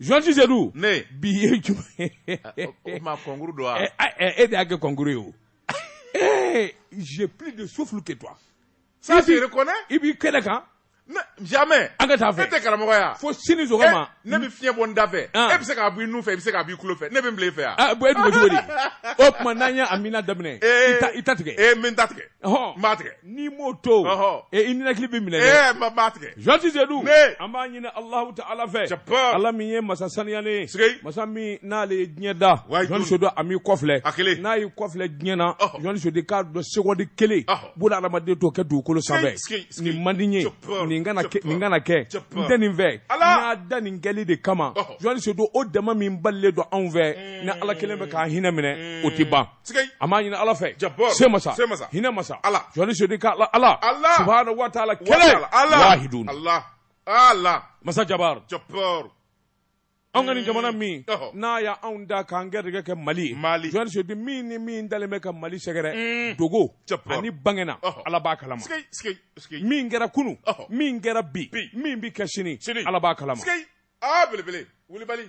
journaliste Sedu ne bi ye jumɛn o ma kɔnkuru don wa e de y'a kɛ kɔnkuru ye o ee j'ai plus de souffle que toi ça se reconnaît i b'i kɛnɛ kan jamais an ka taa fɛ e tɛ karamɔgɔya fo sini sɔgɔma ne bɛ fiɲɛ bɔ n da fɛ e bɛ se k'a bɔ i nun fɛ i bɛ se k'a bɔ i tulo fɛ ne bɛ n bila i fɛ yan bɔn e dun bɛ cogo di o tuma n'an ye amina daminɛ i t'a tigɛ ee n bɛ n t'a tigɛ Ɔhɔn. N b'a tigɛ. N'i m'o to. Ɔhɔn. E i ninakili bɛ minɛ dɛ. Ee n b'a tigɛ. Journaliste Sedu. Ne. An b'a ɲini Alahu Taala fɛ. Jabaa. Ala min ye masa saniyalen ye. Sikeyi. Masa min n'ale ye diɲɛ da. Wayi jɔni. Journaliste Sedu a m'i kɔfilɛ. A kelen. N'a y'i kɔfilɛ diɲɛ na. Ɔhɔn. Journaliste Sedu k'a dɔn sekondi kelen. Ɔhɔn. Buna hadamaden t'o kɛ dugukolo sanfɛ. Sikeyi, sikeyi. Nin man di n ye. Jabaa. Nin kana kɛ Jabaa. nin kana kɛ. Jabaa. N tɛ nin fɛ. Ala. N y'a da nin kɛli de kama. Ɔhɔn. Journaliste Sedu o dama min balilen don anw fɛ. Ni Ala kelen bɛ k'an hinɛ minɛ o tɛ ban. an b'a ɲini ala fɛ se masa hinɛ masa journaliste Sedu ka ala subahana wa taala kelen wahidun masa jabar anw ka nin jamana min n'a y'anw da k'an garijigɛ kɛ mali mali journaliste Sedu min ni min dalen bɛ ka mali sɛgɛrɛ mm. dogo ani bangena ala b'a kalama min kɛra kunu min kɛra bi min bi kɛ sini ala b'a kalama a belebele wulibali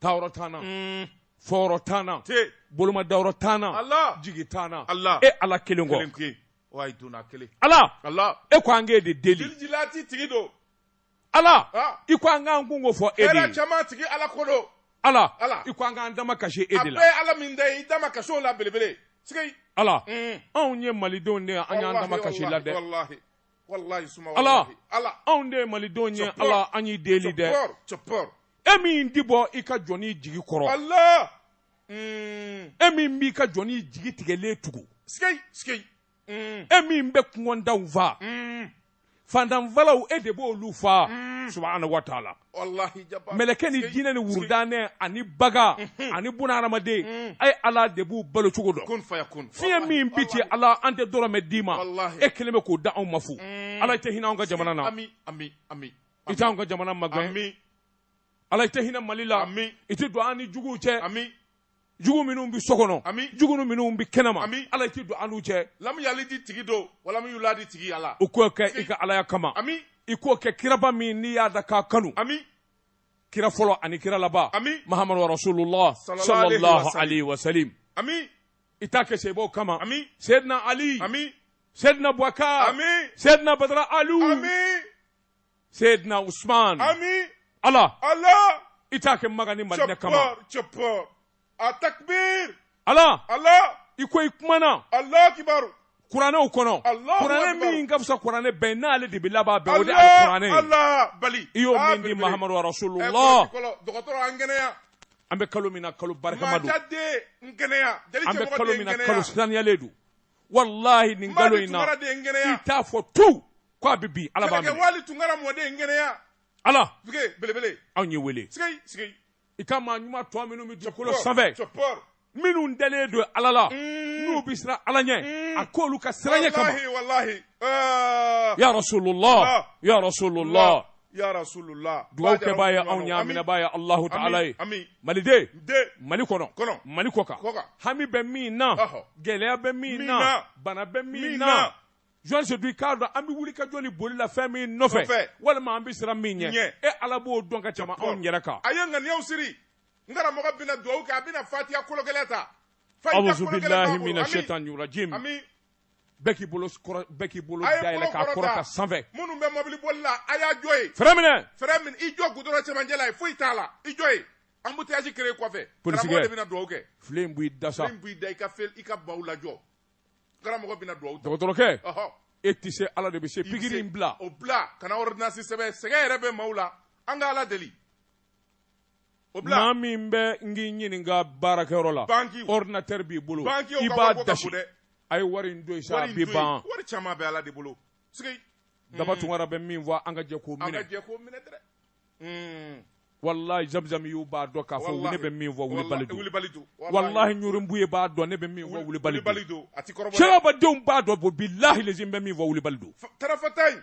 taayɔrɔ t'an na, un, fɔyɔrɔ t'an na, tɛ, bolomadayɔrɔ t'an na, Allah, jigi t'an na, Allah, e Ala kelen kɔ, kelen ko ye, wa i donna kelen, Ala, Allah, e ko an k'e de deli, dilijilati tigi don, Ala, ah, i ko an k'an kunko fɔ e de hɛrɛ ye, caman tigi Ala ko don, Ala, Ala. i ko an k'an damakasi e de la, bɛɛ ye Ala min da ye, i dama kaso la belebele, sigi, Ala, un, anw ye Malidenw de ye, an y'an damakasi i la dɛ, wallahi, ala anw de ye malidenw ye ala an y'i deli dɛ e min ti bɔ i ka jɔni jigi kɔrɔ mm. e min b'i ka jɔni jigi tigɛlen tugu mm. e min bɛ kɔngɔtɔw fa mm. fantan falaw e de b'olu fa subahanahu wa taala mɛlɛkɛ ni jinɛ ni wurudannɛ ani bagan mhm. ani buna hadamaden mhm. a ye ala de b'u balo cogo dɔn fiɲɛ min bi ci ala an tɛ dɔrɔmɛ d'i ma e kelen bɛ k'o da anw ma fu mm. ala i tɛ hinɛ anw ka jamana na i t'anw ka jamana magɛn ala i tɛ hinɛ mali la i tɛ don an ni juguw cɛ jugu minnu bɛ so kɔnɔ ami jugu minnu bɛ kɛnɛma ami ala i tɛ don an n'u cɛ lamu yalidi tigi don walamu yuladi tigi ala i k'o kɛ i ka alaya kama ami i k'o kɛ kiraba min n'i y'a da k'a kanu ami kira fɔlɔ ani kira laban ami mahamadu rasulullah sallallahu alaihi wa sallam ami i t'a kɛ saabaw kama ami seyidina ali ami seyidina bubakar ami seyidina badara alu ami Seydina Usman ami Allah Allah i t'a kɛ Maka ni Madinɛ kama cɛpɔr a takbir Allah Allah i ko i kumana Allah kibaru kuranɛw kɔnɔ kuranɛ min ka fisa kuranɛ bɛɛ n'ale de bɛ laban bɛɛ o de ye kuranɛ ye i y'o min di Mahamadu Rasulullah an kɛnɛya an bɛ kalo min na kalo barikama don an bɛ kalo min na kalo saniyalen don walahi nin kalo in na i t'a fɔ tu ko a bɛ bin ala b'a minɛ wali tunkara mɔden n kɛnɛya ala duge belebele anw y'e wele sigei sigei i ka maa ɲuman tɔ minnu bɛ dugukolo sanfɛ minnu dalen don ala la mm. n'u bɛ siran ala ɲɛ mm. a k'olu ka siran ɲɛ kama ya rasulullah ya rasulullah dugawukɛbaa ye anw ye a minɛbaa ye alahu taala ye maliden mali kɔnɔ mali kɔkan hami bɛ min na gɛlɛya bɛ min na bana bɛ min na jɔn se i k'a dɔn an bɛ wuli ka jɔ ni boli la fɛn min nɔfɛ walima an bɛ siran min ɲɛ e ala b'o dɔn ka tɛmɛ anw yɛrɛ kan a ye ŋaniyaw siri n karamɔgɔ bɛna dugawu kɛ a bɛna fatiya kolo kelen ta bɛɛ k'i bolo kɔrɔ bɛɛ k'i bolo dayɛlɛ k'a kɔrɔta sanfɛ minnu bɛ mɔbili boli la a y'a jɔ yen fɛrɛn minɛ fɛrɛn minɛ i jɔ gudɔrɔn cɛmancɛ la yen foyi t'a la i jɔ yen embouteillage créé kɔfɛ karamɔgɔ de bɛna dugawu kɛ filen in b'i da sa filen in b'i da i ka fel i ka baw lajɔ karamɔgɔ bɛna dugawu kɛ dɔgɔtɔrɔkɛ ɔhɔ e tɛ se ala de bɛ se pikiri in bila o bila kana ordonnance sɛbɛn sɛgɛn yɛrɛ bɛ maaw la an ka ala deli o bila maa min bɛ n k'i ɲininka baarakɛyɔrɔ la Banki. ordinateur b'i bolo Banki o i ka b'a wariko ka dasi bon dɛ. a ye wari in don sa a wari in bɛ to yen. ban wari caman bɛ ala de bolo sigi daba tunkara bɛ min fɔ an ka jɛ k'o an ka minɛ jɛ ko minɛ dɛ Mm. walahi zamzam y'u b'a dɔn k'a fɔ Wallahi. ne bɛ min fɔ Wallahi, wulibali don wulibali don walahi ɲurunbu ye b'a dɔn ne bɛ min fɔ wulibali don wulibali don a t'i kɔrɔbɔ dɛ. sirabadenw b'a dɔn bɔ bilahi lazim n bɛ min fɔ wulibali don Fa- tarafata in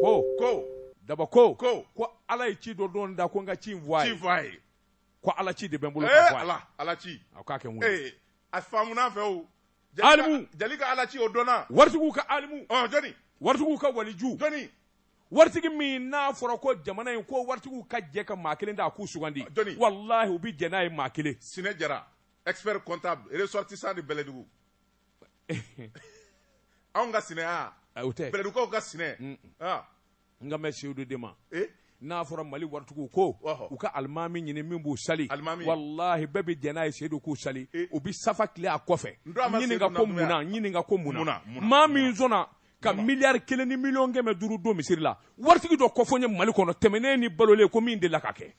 ko ko daba ko ko ko ala ye ci dɔ don n da ko n ka ci in fɔ a ye ci fɔ a ye ko ala ci de bɛ n bolo ka fɔ a ye ala ala ci a k'a kɛ n wele a faamuna fewu alimu jali ka ala ci o dɔnna waritigiw ka alimu ɔ jɔni waritigiw ka waliju jɔni waritigi min n'a fɔra ko jamana in ko waritigiw ka jɛ ka maa kelen ta a k'u sugandi jɔni walahi u bɛ jɛn n'a ye maa kelen sinɛ jara expert comptable ressortissant de bɛlɛdugu anw ka sinɛ o tɛ bɛlɛdugukaw ka sinɛ n kan bɛ seyidu de ma n'a fɔra mali waritigiw ko u ka alimami ɲini min b'u sali walahi bɛɛ bɛ jɛn n'a ye seyidu k'u sali u bɛ safa tilen a kɔfɛ ɲininka ko munna maa min sɔnna ka miliyari kelen ni miliyɔn kɛmɛ duuru don misiri la waritigi dɔ kofɔ n ye mali kɔnɔ tɛmɛnen ni balolen ko min delila ka kɛ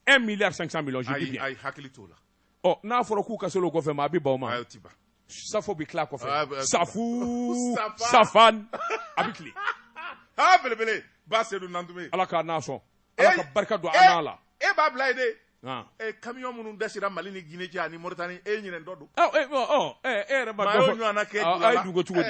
un milliard cinq cents millions je dis bien ayi hakili t'o la ɔ n'a fɔra k'u ka se o kɔfɛ ma a bɛ ban o ma ayi o ti ban safo bɛ tila kɔfɛ ah, bah, safu safan a bɛ tile aa belebele ba sedu nantume ala k'a n'a sɔn ala ka barika don an n'a la e b'a bila yen de Ah. Eh, camion minnu dasira mali ni guinée cɛ ani mauritanie e ɲinɛ dɔ don e yɛrɛ ma dɔ fɔ a ye dugu cogo di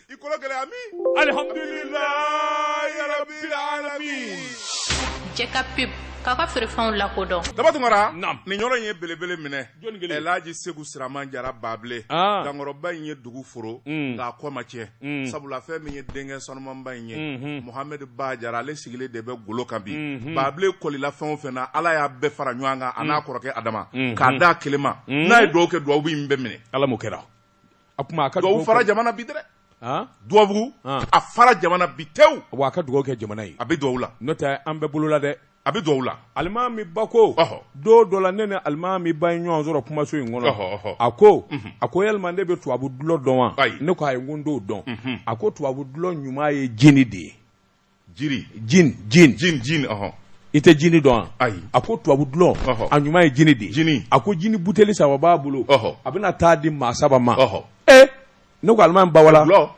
i kolo gɛlɛya min alihamdulilayi rabbil alamin jɛka pub k'a ka feerefɛnw lakodɔn daba tunkara nin yɔrɔ in ye belebele minɛ elaji segu siraman jara baabile ah. dankɔrɔba in ye dugu foro mm. nk'a kɔ ma tiɲɛ mm. sabula fɛn min ye denkɛ sanumanba in ye mm-hmm. mohamɛdi ba jara ale sigilen de bɛ golo kan bi mm-hmm. baabile kɔlila fɛn o fɛn na ala y'a bɛɛ fara ɲɔgɔn kan a n'a mm. kɔrɔkɛ adama mm-hmm. k'a d'a kelen ma n'a ye duwawu kɛ duwawu in bɛ minɛ ala m'o kɛra a kuma a ka dugawu fara jamana bi dɛ dugawu a fara jamana bi tewu wa a ka dugawu kɛ jamana ye a bɛ dugawu la n'o tɛ an bɛɛ bolola dɛ a bɛ dugawu la alimami ba ko don dɔ la ne ni alimami ba ye ɲɔgɔn sɔrɔ kumaso in kɔnɔ a ko mhm. a ko yalima ne bɛ tubabu dulɔ dɔn wa ne ko ayi n ko n t'o dɔn mhm. a ko tubabu dulɔ ɲuman ye jini de ye jini jin jin jin jin ɔhɔn i tɛ jini dɔn wa ayi a ko tubabu dulɔ Ɔhɔ. a ɲuman ye jini de ye Jini. a ko jini buteli saba b'a bolo Ɔhɔ. a bɛna taa di maa saba ma ɔhɔn ee ne ko alimami ba wala dulɔ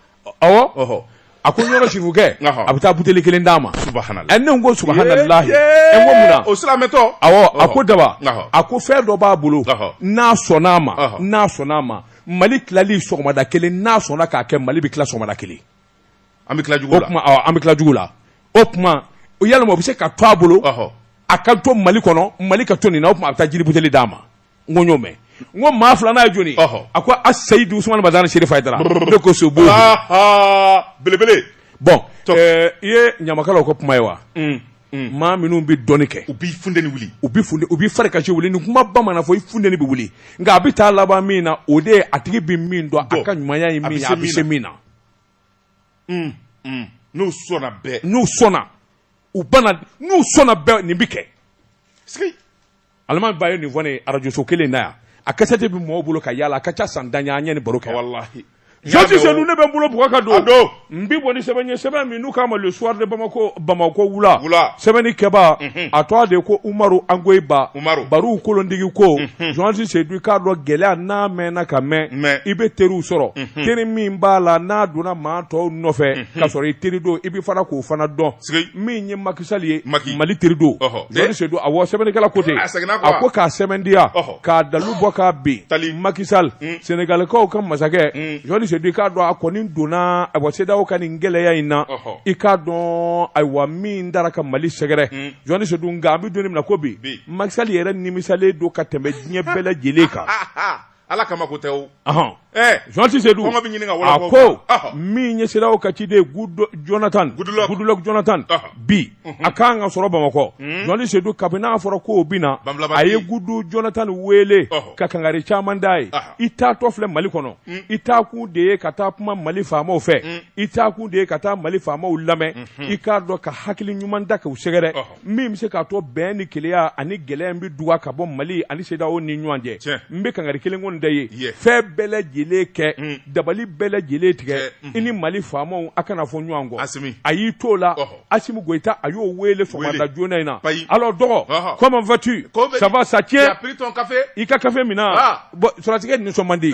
awɔ ɔhɔn a ko ɲɔrɔ sirifukɛ Ɔhɔ. a bɛ taa buteli kelen d'a ma subahanala ɛ ne ko subahanallahi ɛ n ko mun na o silamɛtɔ awɔ a ko daba Ɔhɔ. a ko fɛn dɔ b'a bolo Ɔhɔ. n'a sɔnna a ma Ɔhɔ. n'a sɔnna a ma mali tilali sɔgɔmada kelen n'a sɔnna k'a kɛ mali bɛ tila sɔgɔmada kelen an bɛ tila jugu la, an bɛ tila jugu la o tuma yalima o bɛ se ka to a bolo a ka to Mali kɔnɔ Mali ka to nin na o tuma a bɛ taa jini buteli d'a ma n ko n y'o mɛn n ko maa filanan ye jɔni a ko a Seyidu Usumani Madani Serifu Hayidara ne ko sobo belebele bon eh, i ye ɲamakalaw ka kuma ye wa mm, mm. maa minnu bɛ dɔnni kɛ u b'i funteni wuli u bɛ funteni u b'i fari kasi wuli nin kumaba mana fɔ i funteni bɛ wuli nka a bɛ taa laban min na o de ye a tigi bɛ min dɔn a ka ɲumanya ye min ye a bɛ se min na. n'u sɔnna bɛɛ n'u sɔnna u bana n'u sɔnna bɛɛ nin bɛ kɛ alimami ba ye nin fɔ n ye arajoso kelen na yan a kasɛti bɛ mɔgɔw bolo ka yala a ka ca san tan an ye nin baro kɛ walayi jɔnsi seyidu ne bɛ n bolo bugɔ ka don don n bɛ bɔ ni sɛbɛn ye sɛbɛn min n'u k'a ma le soir de bamako bamakɔ wula sɛbɛnnikɛbaa a tɔgɔ de ko umaru angoyiba barow kolondigi ko jɔnsi seyidu k'a dɔn gɛlɛya n'a mɛnna ka mɛn i bɛ teriw sɔrɔ teri min b'a la n'a donna maa tɔw nɔfɛ ka sɔrɔ i teri don i bɛ fana k'o fana dɔn min ye maki sali ye mali teri don jɔnsi seyidu awɔ sɛbɛnnikɛla ko ten a ko k'a sɛbɛndiya k'a dalu bɔ k'a bɛn maki sali senegalikaw ka masakɛ jɔnsi seyidu k'a dɔn a kɔni donna a CEDEAO ka nin gɛlɛya in na i k'a dɔn ayiwa min dara ka mali sɛgɛrɛ hmm. jɔnti sedu nka an bɛ don min na ko bi Macky Sall yɛrɛ nimisalen don ka tɛmɛ diɲɛ bɛɛ lajɛlen kan ala kama ko tɛ o jɔnti sedu kɔngɔ bɛ ɲini ka wala a ko min ye CEDEAO ka ciden jonathan Goodluck jonathan bi mhm. a kan ka sɔrɔ bamakɔ hmm. jɔnti sedu kabini n'a fɔra ko o bɛ na a ye gudu jonathan wele ka kangari caman d'a ye i taatɔ filɛ mali kɔnɔ hmm. i taakun de ye ka taa kuma mali faamaw fɛ hmm. i taa kun de ye ka taa mali faamaw lamɛn i k'a dɔn ka hakili ɲuman da k'u sɛgɛrɛ min bɛ se k'a to bɛn ni kelenya ani gɛlɛya in bɛ duga ka bɔ mali ani CEDEAO ni ɲɔgɔn cɛ n bɛ kangari kelen kɔni da ye fɛn bɛɛ lajɛlen kɛ mm. dabali bɛɛ lajɛlen tigɛ mm-hmm. i ni mali faamaw a kana fɔ ɲɔgɔn kɔ a y'i t'o la asimi goyita a y'o wele sɔgɔmada joona in na alors dɔgɔ comment vas-tu ça va ça tient i ka kafe minna ah. sɔrɔdasikɛ nisɔn man di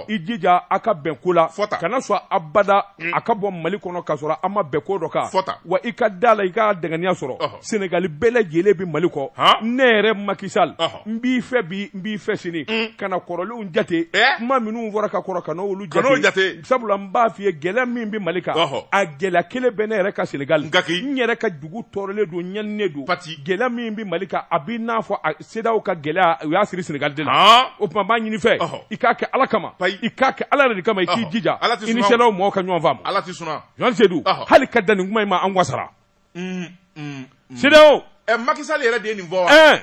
i jija a ka bɛn ko la fɔta kana sɔn abada mm. a ka bɔ mali kɔnɔ ka sɔrɔ a ma bɛn ko dɔ kan fɔta wa i ka d'a la i ka dankɛnɛya sɔrɔ senegali bɛɛ lajɛlen bɛ mali kɔ ne yɛrɛ Macky Sall n b'i fɛ bi n b'i fɛ sini mm. kana kɔrɔlenw jate eh? kuma minnu fɔra ka kɔrɔ kana olu jate sabula n b'a f'i ye gɛlɛya min bɛ mali kan a gɛlɛya kelen bɛ ne yɛrɛ ka senegali n yɛrɛ ka dugu tɔɔrɔlen don ɲaninen don gɛlɛya min bɛ mali kan a b'i n'a fɔ CEDEAO ka gɛlɛya u y'a siri Senegal de la o tuma n b'a ɲini i fɛ i k'a kɛ Ala kama i k'a kɛ Ala yɛrɛ de kama i k'i jija i ni CEDEAO mɔgɔw ka ɲɔgɔn faamu Ala tɛ sɔn a ma Jɔnti Sedu hali ka dan nin kuma in ma an wasara CEDEAO ɛ Macky Sall yɛrɛ de ye nin fɔ wa ɛ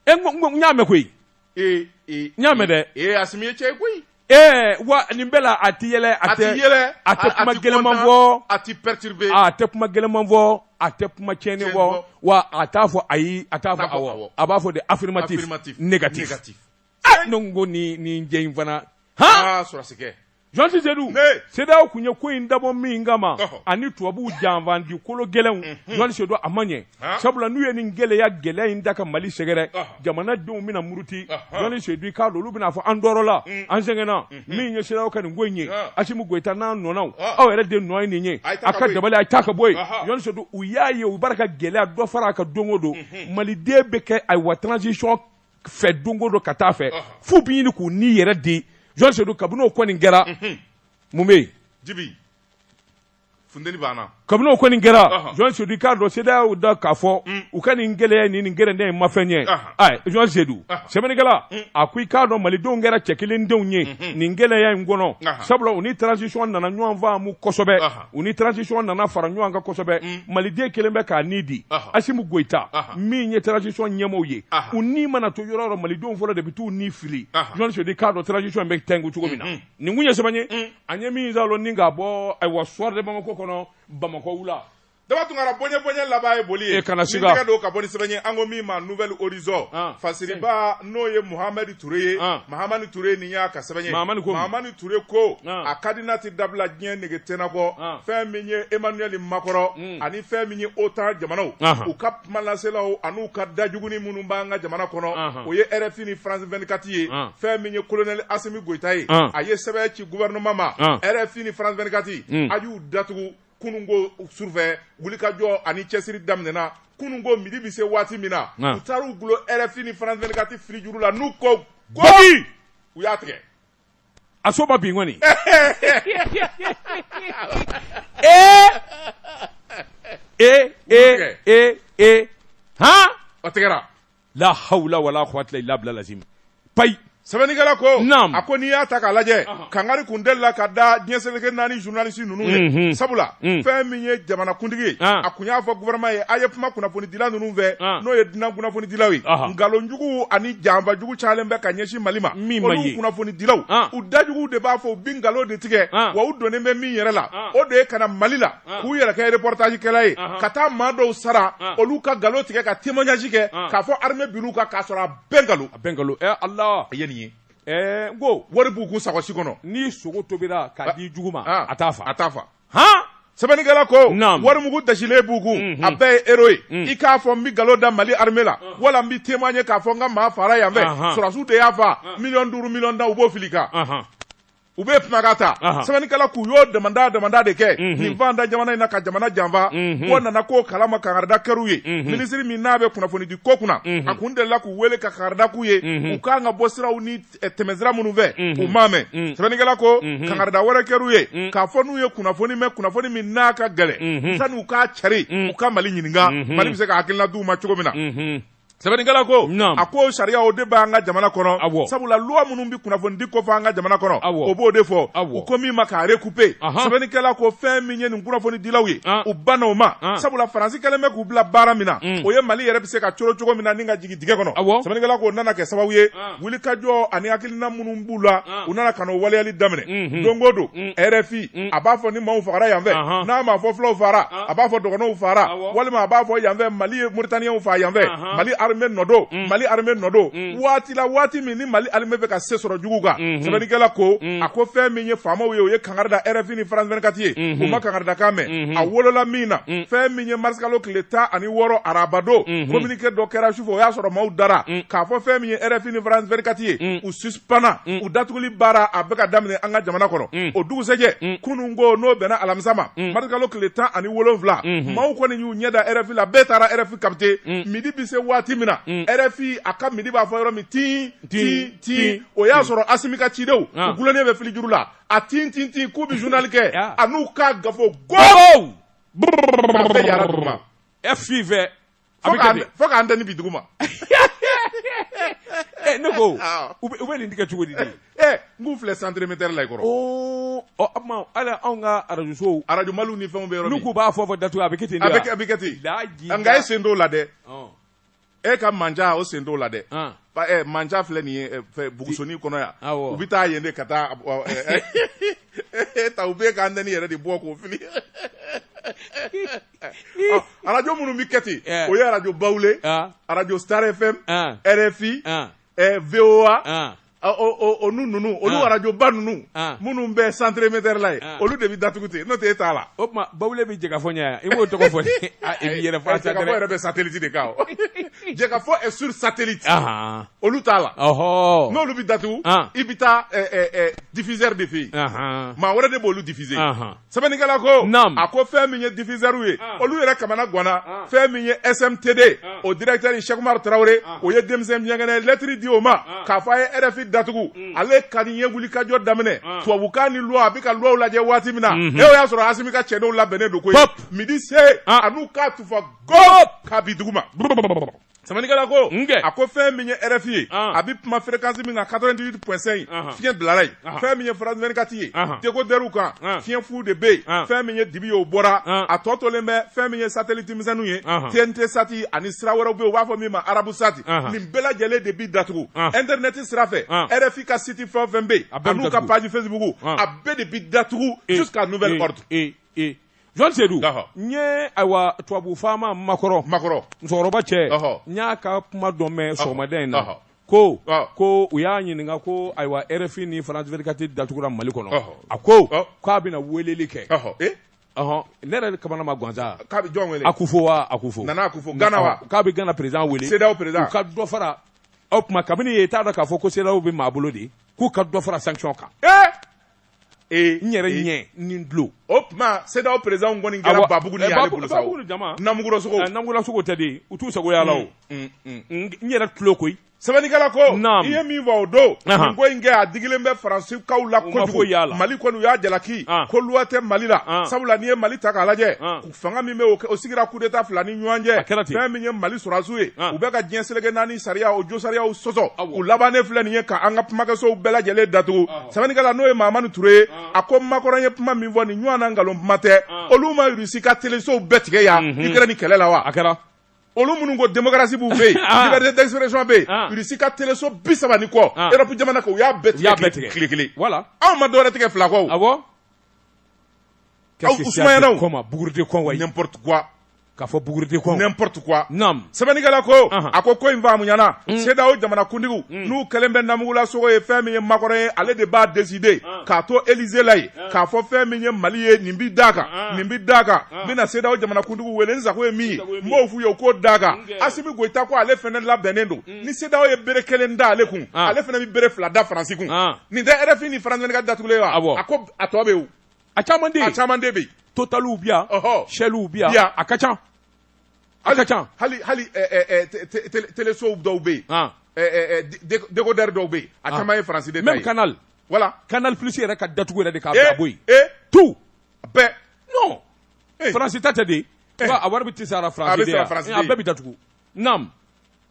n y'a mɛn koyi n y'a mɛn dɛ ee Asimi ye cɛ ye koyi Ee wa nin bɛɛ la a tɛ yɛlɛ a tɛ yɛlɛ a tɛ kuma gɛlɛnman fɔ a tɛ perturbé a tɛ kuma gɛlɛnman fɔ a tɛ kuma tiɲɛnen fɔ wa a t'a fɔ ayi a t'a fɔ awɔ a b'a fɔ de affirmatif négatif aa ne ko n ko nin nin cɛ in fana han aa sɔrɔdasikɛ Jɔnti Sedu CEDEAO tun ye ko in dabɔ min kama ani tubabuw janfanci kologɛlɛnw Jɔnti Sedu a ma ɲɛ. sabula n'u ye nin gɛlɛya gɛlɛya in da ka mali sɛgɛrɛ jamanadenw bɛna muruti jɔnti sedu k'a dɔn olu bɛna fɔ an tɔɔrɔla mm. an sɛgɛnna mm-hmm. min ye CEDEAO ka nin ko in ye asimi goyita n'a nɔnaw aw yɛrɛ de nɔ ye nin ye a ka dabali a taa ka bɔ yen jɔnti sedu u y'a ye u bɛ ka gɛlɛya dɔ fara a kan don o don mm-hmm. maliden bɛ kɛ ayiwa transition fɛ don o don ka taa fɛ f'u bɛ ɲini k'u ni yɛrɛ di jɔnti sedu kabini o kɔni kɛra mm-hmm. mun bɛ yen funteni banna kabini o kɔni kɛra Ɔhɔn. jɔnti sedu i k'a dɔn CEDEAO da k'a fɔ Mm. u ka nin gɛlɛya ni nin gɛrɛndɛ in ma fɛn ɲɛ Ɔhɔn. ayi jɔnti sedu Ɔhɔn. sɛbɛnnikɛla Mm. a ko i k'a dɔn malidenw kɛra cɛ kelen denw ye Mhm. nin gɛlɛya in kɔnɔ Ɔhɔn. sabula u ni transition nana ɲɔgɔn faamu kosɛbɛ Ɔhɔn. u ni transition nana fara ɲɔgɔn kan kosɛbɛ Mm. maliden kelen bɛ k'a ni di Ɔhɔn. asimi goyita Ɔhɔn. min ye transition ɲɛmɔgɔw ye Ɔhɔn. u ni mana to yɔrɔ o yɔrɔ malidenw fɔlɔ de bɛ t'u ni fili Ɔhɔn. jɔnti sedu i k'a dɔn transition in bɛ tɛngu cogo min na Mhm. nin kun ye sɛbɛn ye Mm. an ye min saalo ni ka bɔ ayiwa soir de bamako kɔnɔ bamakɔ wula daba tunkara bonya bonya laban ye boli ye e kana siga tɛgɛ don ka bɔ ni sɛbɛn ye an ko min ma nouvel horizon ah. fasiriba n'o ye muhamadi ture ye ah. mahamani ture nin y'a ka sɛbɛn ye mahamani ture ko ah. a kadina tɛ dabila diɲɛ nege tɛna kɔ fɛn min ye emmanuel macron hmm. ani fɛn min ye otan jamanaw u ka kumalaselaw ani u ka dajuguni minnu b'an ka jamana kɔnɔ o ye rfi ni france vingt-quatre ye fɛn min ye colonel assimi goïta ye a ye sɛbɛn ci gouvernement ma rfi ni france vingt-quatre a y'u datugu kununko sufɛ wulikajɔ ani cɛsiri daminɛna kunun ko midi bɛ se waati min na u taara u gulon rfi ni france vingt-quatre fili juru la n'u ko u y'a tigɛ a so ma bin kɔni ee ee ee ee ee han o tigɛra la hawla wala quwwata illa billah lazim payi sɛbɛnnikɛla ko Naam. a ko n'i y'a ta k'a lajɛ kangari kun delila ka da diɲɛ seleke naani journaliste ninnu ye Mhm. sabula Mm. fɛn min ye jamanakuntigi ye Ah. a kun y'a fɔ gouvernement ye a ye kuma kunnafoni dila ninnu fɛ n'o ye dunan kunnafoni dilaw ye nkalonjugu ani janfajugu calen bɛ ka ɲɛsin mali ma olu kunnafoni dilaw u dajugu de b'a fɔ u bi nkalon de tigɛ wa u donnen bɛ min yɛrɛ la o de ye ka na mali la k'u yɛrɛ kɛ repɔtajikɛla ye ka taa maa dɔw sara olu ka nkalon tigɛ ka témoignage kɛ k'a fɔ armée binn'u kan k'a sɔrɔ a bɛɛ nkalon a bɛɛ nkalon ala a ye nin ye n ko wari b'u kun sakɔsi kɔnɔ ni sogo tobira ka di jugu ma a t'a fa a t'a hɔn sɛbɛnnikɛla ko Naamu. warimugu dasilen b'u kun Unhun. a bɛɛ ye euro ye Mm. i k'a fɔ n bɛ nkalon da mali armée la wala n bɛ témoigner k'a fɔ n ka maa fara yan fɛ Ahan. sɔrɔdasiw de y'a fa miliyɔn duuru miliyɔn tan u b'o fili i kan Ahan. u bɛ kumakan ta Ahan. sɛbɛnnikɛla k'u y'o damanda damanda de kɛ Mhm. nin fɛn da jamana in na ka jamana janfa Mhm. k'o nana k'o kalama kankarida kɛr'u ye Mhm. minisiri min n'a bɛ kunnafonidi ko kunna Mhm. a kun delila k'u wele ka kankarida k'u ye Mhm. u kan ka bɔ siraw ni tɛmɛsira minnu fɛ u m'a mɛn sɛbɛnnikɛla ko kangarida wɛrɛ kɛr'u ye k'a fɔ n'u ye kunnafoni mɛn kunnafoni min n'a ka gɛlɛn sani u k'a cari u ka mali ɲininka mali bɛ se ka hakilina d'u ma cogo min na sɛbɛnnikɛla ko a ko sariya o de b'an ka jamana kɔnɔ sabula luwa minnu bɛ kunnafoni di kofɔ an ka jamana kɔnɔ o b'o de fɔ u ko min ma k'a rekupe sɛbɛnnikɛla ko fɛn min ye nin kunnafoni dilaw ye u banna o ma sabula faransi kɛlen bɛ k'u bila baara min na o ye mali yɛrɛ bɛ se ka coron cogo min na ni ka jigin dingɛ kɔnɔ, awɔ, sɛbɛnnikɛla k'o nana kɛ sababu ye wulikajɔ ani hakilina minnu b'u la u nana ka n'o waleyali daminɛ, unhun, don o don RFI a b'a fɔ ni maaw fagara yan fɛ, n'a ma fɔ fulaw fagara a b'a fɔ dɔgɔnɔw fagara walima a b'a fɔ yan fɛ Mali ye Mauritaniens faga yan fɛ, Mali armée nɔ don, Mali armée nɔ don, waati la waati min ni Mali armée bɛ ka se sɔrɔ juguw kan, unhun, sɛbɛnnikɛla ko, a ko fɛn min ye faamaw ye o ye kangari da rfi ni france 24 ye u ma kangaridakan mɛn a wolola min na fɛn min ye marisikalo tile tan ani wɔɔrɔ arabado communiqué dɔ kɛra sufɛ o y'a sɔrɔ maaw dara k'a fɔ fɛn min ye rfi ni france 24 ye u suspendre u datuguli baara a bɛ ka daminɛ an ka jamana kɔnɔ o dugusɛjɛ kunun ko n'o bɛnna alamisa ma marisikalo tile tan ani wolonwula maaw kɔni y'u ɲɛ da rfi la bɛɛ taara rfi capter midi bɛ se waati min na rfi a ka midi b'a fɔ yɔrɔ min tin tin tin o y'a sɔrɔ asimi ka cidenw u dulonnen bɛ filijuru la a tin tin tin k'u bɛ journal kɛ a n'u k'a gafo go k'a bɛɛ yara duguma e f'i fɛ fo ka antenne bin duguma eh, ne ko u bɛ nin tigɛ cogo di de eh, n k'u filɛ centre émetteur la i kɔrɔ o tuma hali anw ka arajo sow arajo maliw ni fɛnw bɛ yɔrɔ min n'u k'u b'a fɔ fɔ datugu a bɛ kɛ ten de wa a bɛ kɛ ten nka e sen t'o la dɛ e ka manja o sen t'o la dɛ manja filɛ nin ye bugusoni kɔnɔ yan u bɛ taa yen de ka taa e ta u bɛ ka antenne yɛrɛ de bɔ k'o fili arajo minnu bɛ kɛ ten o ye arajo bawule arajo star fm rfi Ɛɛ VOA an ɔ o o o n'u ninnu olu An. radio ba ninnu An. minnu bɛ centre émetteur la ye An. olu de bɛ datugu ten n'o tɛ e t'a la o tuma bawule bɛ Jɛkafɔ ɲɛ yan i m'o tɔgɔ fɔ dɛ Ah, i b'i yɛrɛ fɔ a Ɛ, Jɛkafɔ yɛrɛ bɛ satellite de kan o. Jɛkafɔ est sur satellite ahan olu t'a la ɔhɔ n'olu bɛ datugu An. i bɛ taa ɛ, ɛ, ɛ, diffuseur de fɛ yen ahan maa wɛrɛ de b'olu diffuser ahan sɛbɛnnikɛla ko a ko fɛn min ye diffuseur ye ah. olu yɛrɛ kamana ganna ah. fɛn min ye SMTD ah. o directeur Cheick Oumar Traoré o ye denmisɛn miyankɛnɛ lɛtiri di o ma k'a fɔ a ye RFI datugu mm. ale ka nin ye wulikajɔ daminɛ tubabukan ni loi a bɛ ka loiw lajɛ waati min na mhm. e o y'a sɔrɔ Asimi ka cɛdenw labɛnnen don koyi midi se a n'u k'a tufa gop k'a bin duguma Sɛbɛnnikɛla ko nkɛ a ko fɛn min ye RFI ye a bɛ kuma fréquence min kan 88.5 fiɲɛ bilala yen fɛn min ye France 24 ye décodeur kan fiɲɛ fu de bɛ yen fɛn min ye dibi ye o bɔra a tɔ tolen bɛ fɛn min ye satellite misɛnninw ye TNT sati ani sira wɛrɛw bɛ yen u b'a fɔ min ma arabu sati nin bɛɛ lajɛlen de bɛ datugu internet sira fɛ RFI ka site fɛn o fɛn bɛ yen a n'u ka page Facebook a bɛɛ de bɛ datugu jusqu'à nouvel ordre. jɔn sedu n ye ayiwa tubabu faama macron macron musokɔrɔba cɛ n y'a ka kuma dɔ mɛn sɔgɔmada in na ko ko u y'a ɲininka ko ayiwa rfi ni france 24 datugura mali kɔnɔ a ko k'a bɛna weleli kɛ ne yɛrɛ kamana ma gan sa k'a bɛ jɔn wele akufo wa akufo nana akufo gana wa k'a bɛ gana président wele cedeao président u ka dɔ fara o tuma kabini e t'a dɔn k'a fɔ ko cedeao bɛ maa bolo de k'u ka dɔ fara sanction kan ee n yɛrɛ ɲɛ ni n tulo o tuma CEDEAO président kɔni kɛra babugu ni y'ale bolo sa o namugulasogo namugulasogo tɛ de u t'u sago y'a la o n yɛrɛ tulo koyi sɛbɛnnikɛla ko i ye min fɔ o don nin ko in kɛ a digilen bɛ faransikaw la kojugu Mali kɔni u y'a jalaki ko loi tɛ Mali la sabula n'i ye Mali ta k'a lajɛ fanga min bɛ o sigira kudeta fila ni ɲɔgɔn cɛ fɛn min ye mali sɔrɔdasiw ye u bɛ ka diɲɛ seleke naani sariya o jo sariyaw sɔsɔ u labannen filɛ nin ye ka an ka kumakɛsow bɛɛ lajɛlen datugu sɛbɛnnikɛla n'o ye mahamani ture ye a ko makɔrɔ ye kuma min fɔ nin ɲɔgɔn na nkalon kuma tɛ olu ma rusi ka telesow bɛɛ tigɛ yan Ukraine kɛlɛ la wa a kɛra olu minnu ko démocratie b'u fɛ yen liberté d'expression bɛ yen rusi ka teleso bi saba ni kɔ Europe jamana kan u y'a bɛɛ tigɛ tile kelen anw ma dɔwɛrɛ tigɛ fila kɔ K'a fɔ bougre de con n'importe quoi sɛbɛnnikɛla ko a ko ko in faamuyana CEDEAO jamanakuntigiw n'u kɛlen bɛ namugulasogo ye fɛn min ye makɔrɔ ye ale de b'a décider k'a to Élysée la yen k'a fɔ fɛn min ye mali ye nin bɛ d'a kan nin bɛ d'a kan n bɛna CEDEAO jamanakuntigiw wele n sago ye min ye n b'o f'u ye o k'o d'a kan Assimi Goïta ko ale fana labɛnnen don ni CEDEAO ye bere kelen da ale kun ale fana bɛ bere fila da faransi kun nin tɛ RFI ni France 24 datugulen wa a ko a tɔ bɛ yen a caman a caman de bɛ totaliw bi yan sɛliw bi yan a ka ca a ka ca hali hali telesow dɔw bɛ yen dekodɛri dɔw bɛ yen a caman ye faransi de ta ye même Canal voilà Canal Plus yɛrɛ ka datugu yɛrɛ de k'a bɔ yen tout bɛɛ non faransi ta tɛ de a wari bɛ ti sara faransi de yan a bɛɛ bɛ datugu naamu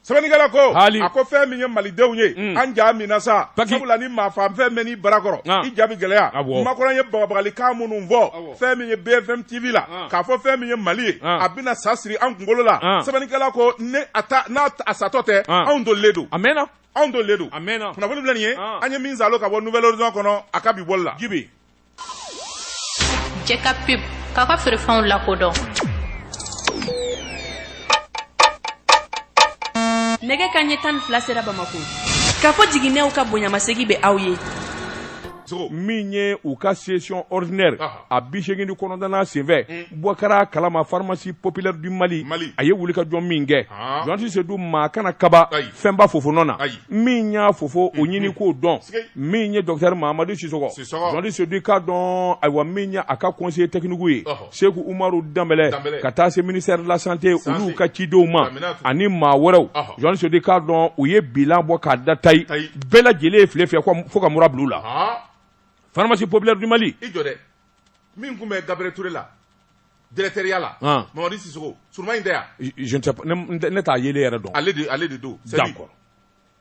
sɛbɛnnikɛla ko a ko fɛn min ye malidenw ye mm. an ja min na sa sabula ni maafaafɛn mɛnn'i bara kɔrɔ ah. i ja bɛ gɛlɛya ah, makɔrɔ ye bagabagalikan minnu fɔ ah, fɛn min ye bfm tv la k'a fɔ fɛn min ye mali ye a bɛna sa siri an kunkolo la sɛbɛnnikɛla ko an satɔ tɛ anw dolilen don a mɛnna anw dolilen don a mɛnna kunnafoni filɛ nin ye an ye min salo ka bɔ Nouvel Horizon kɔnɔ a ka bi bɔli la jibi Cɛ ka pub k'a ka feerefɛnw lakodɔn nɛgɛ kanɲɛ tan fila sera bamakɔ k'a fɔ jigininɛw ka bonyamasegin bɛ aw ye min ye u ka session ordinaire a bi segin ni kɔnɔntɔnnan senfɛ hmm. bɔ kɛra kalama pharmacie populaire du mali a ye wuli ka jɔ min kɛ ah. jɔnti sedu maa kana kaba fɛnba fofo nɔ na min y'a fofo o hmm, ɲini hmm. k'o dɔn min ye docteur mahamadu siso Jɔndi sedu ka dɔn ayiwa min ye a ka kɔnse tɛkiniku ye segu umaru dan ka taa se minisɛri lasante olu ka cidenw ma ani maa wɛrɛw jɔn sodi k'a dɔn u ye bi bɔ k'a da ta bɛɛ lajɛlen file fɛ fo ka mura bila la faramasi pbilɛ dubali min tun bɛ gaɛrɛre la dtɛya la mamari siso in tɛ ne t'a ye yɛrɛ dɔn ale ale de don kɔrɔ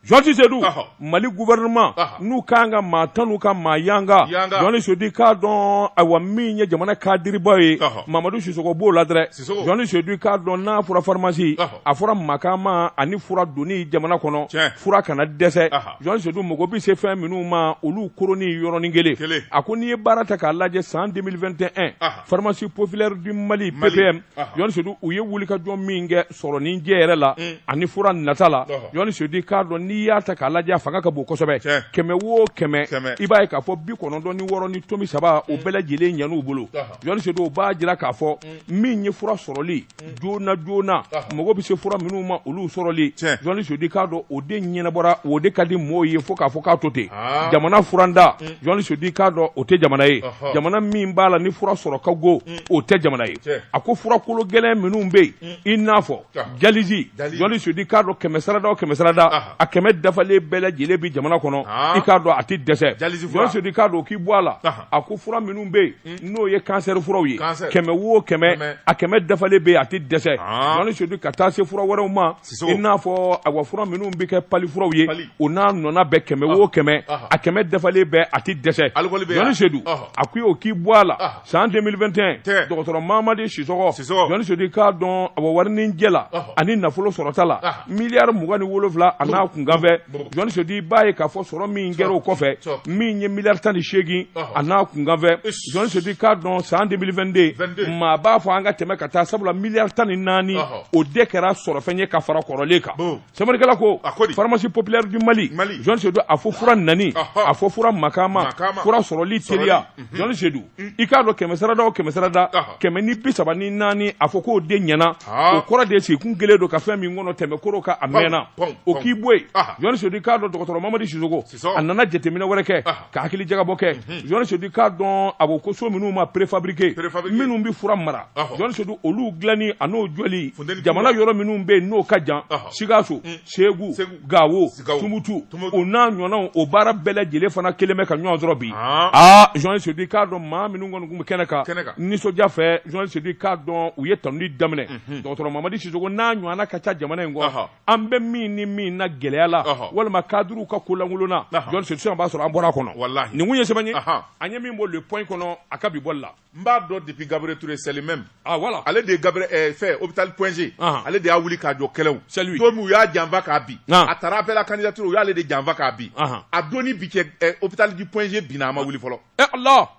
Jɔsi sedu mali guɛinma n'u ka kan ka maa tan n'u ka maa yanga jɔnni sudi k'a dɔn a wa min ye jamana ka dibaa ye mamadu siso b'o la dɛ jɔnni sudu k'a dɔn n'a fɔra faramasi a fɔra makaama ani fura don jamana kɔnɔ fura kana dɛsɛ jɔn sudu mɔgɔ bɛ se fɛn minnu ma olu k ni yɔrɔɔrɔnin kelen a ko n'i ye baara ta k'a lajɛ san denmisɛnnin2 tɛ faramasi pfileɛrɛdi mali bɛɛ bɛ jɔn sudu u ye wuli ka jɔn min kɛ sɔrɔnin jɛ yɛrɛ la mm. ani fura nata la journaliste Seydou i k'a dɔn n'i y'a ta k'a lajɛ fanga ka bon kosɛbɛ kɛmɛ wo kɛmɛ i b'a ye k'a fɔ bi kɔnɔntɔn ni wɔɔrɔ ni tomi saba o mm. bɛɛ lajɛlen ɲan'u bolo journaliste Seydou o b'a jira k'a fɔ mm. min ye fura sɔrɔli joona joona mago bɛ se fura minnu ma olu sɔrɔli journaliste Seydou i k'a dɔn o de ɲɛnabɔra o de ka di mɔɔw ye fo k'a fɔ k'a to ten ah. jamana furantan journaliste Seydou i k'a dɔn o tɛ jamana ye jamana min b'a la ni fura sɔrɔ ka go o tɛ jamana ye a ko fura kolo gɛlɛn minnu bɛ yen i n'a fɔ dialyse journaliste Seydou i k'a dɔn kɛmɛ sarada o kɛmɛ sarada a kɛmɛ dafalen bɛɛ lajɛlen bi jamana kɔnɔ i k'a dɔn a tɛ dɛsɛ journaliste Seydou i k'a dɔn o k'i bɔ a la a ko fura minnu bɛ yen hmm. n'o ye kansɛri furaw ye kɛmɛ wo kɛmɛ a kɛmɛ dafalen bɛ yen a tɛ dɛsɛ journaliste Seydou ka taa se fura wɛrɛw ma i n'a fɔ awa fura minnu bɛ kɛ pali furaw ye o n'a ɲɔgɔnna bɛɛ kɛmɛ wo kɛmɛ a kɛmɛ dafalen bɛɛ a tɛ dɛsɛ journaliste Seydou a ko o k'i bɔ a la san 2021 dɔgɔtɔrɔ mamadi Sisoko journaliste Seydou i k'a dɔn awa warinin jɛ la ani nafolo sɔrɔta la miliyari mugan ni wolonwula a n'a kunkanfɛn journaliste Seydou i b'a ye k'a fɔ sɔrɔ min kɛra o kɔfɛ min ye miliyari tan ni seegin a n'a kunkanfɛn journaliste Seydou i k'a dɔn san 2022 maa b'a fɔ an ka tɛmɛ ka taa sabula miliyari tan ni naani o de kɛra sɔrɔfɛn ye ka fara kɔrɔlen kan Sɛbɛnnikɛla ko pharmacie populaire du Mali journaliste Seydou a fɔ fura nani a fɔ fura makaama fura sɔrɔli teliya journaliste Seydou mm. i k'a dɔn kɛmɛ sarada o kɛmɛ sarada kɛmɛ ni bi saba ni naani a fɔ k'o de ɲɛna o kɔrɔ de sigi kun kelen don ka fɛn min kɔnɔ tɛmɛ koro ka a mɛnna o k'i bɔ yen journaliste Seydou i k'a dɔn dɔgɔtɔrɔ Mamadi Sisoko a nana jateminɛ wɛrɛ kɛ ah. ka hakili jagabɔ kɛ mhm. journaliste Seydou i k'a dɔn a ko so minnu ma préfabriqué minnu bɛ fura mara ah. journaliste Seydou olu dilanni a n'o jɔli jamana yɔrɔ minnu bɛ yen n'o ka jan ah. sikaso mm. segu gawo tumutu o n'a ɲɔgɔnnaw o baara bɛɛ lajɛlen fana kɛlen bɛ ka ɲɔgɔn sɔrɔ bi aa journaliste Seydou i k'a dɔn maa minnu kɔni tun bɛ kɛnɛ kan nisɔndiya fɛ journaliste Seydou i k'a dɔn u ye tanuni daminɛ mhm. dɔgɔtɔrɔ mamadi Sisoko n'a ɲɔgɔnna ka ca jamana in kɔ an bɛ min ni min na gɛlɛya la walima kadiriw ka kolankolonna journaliste Seydou i b'a sɔrɔ an bɔra a kɔnɔ walahi nin kun ye sɛbɛn ye an ye min bɔ le point kɔnɔ a ka bi bɔli la n b'a dɔn depuis Gabriel Touré c'est le même ah voilà ale de ye Gabriel eh, fɛ hôpital point G ale de y'a wuli k'a jɔ kɛlɛw c'est lui don min u y'a janfa k'a bin a taara appel à candidature u y'ale de janfa k'a bin a don ni bi cɛ eh, hôpital du point G binna a ma wuli fɔlɔ eh Allah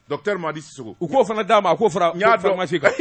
docteur Mamadi Sissoko u k'o fana d'a ma a k'o fara n y'a dɔn pharmacie kan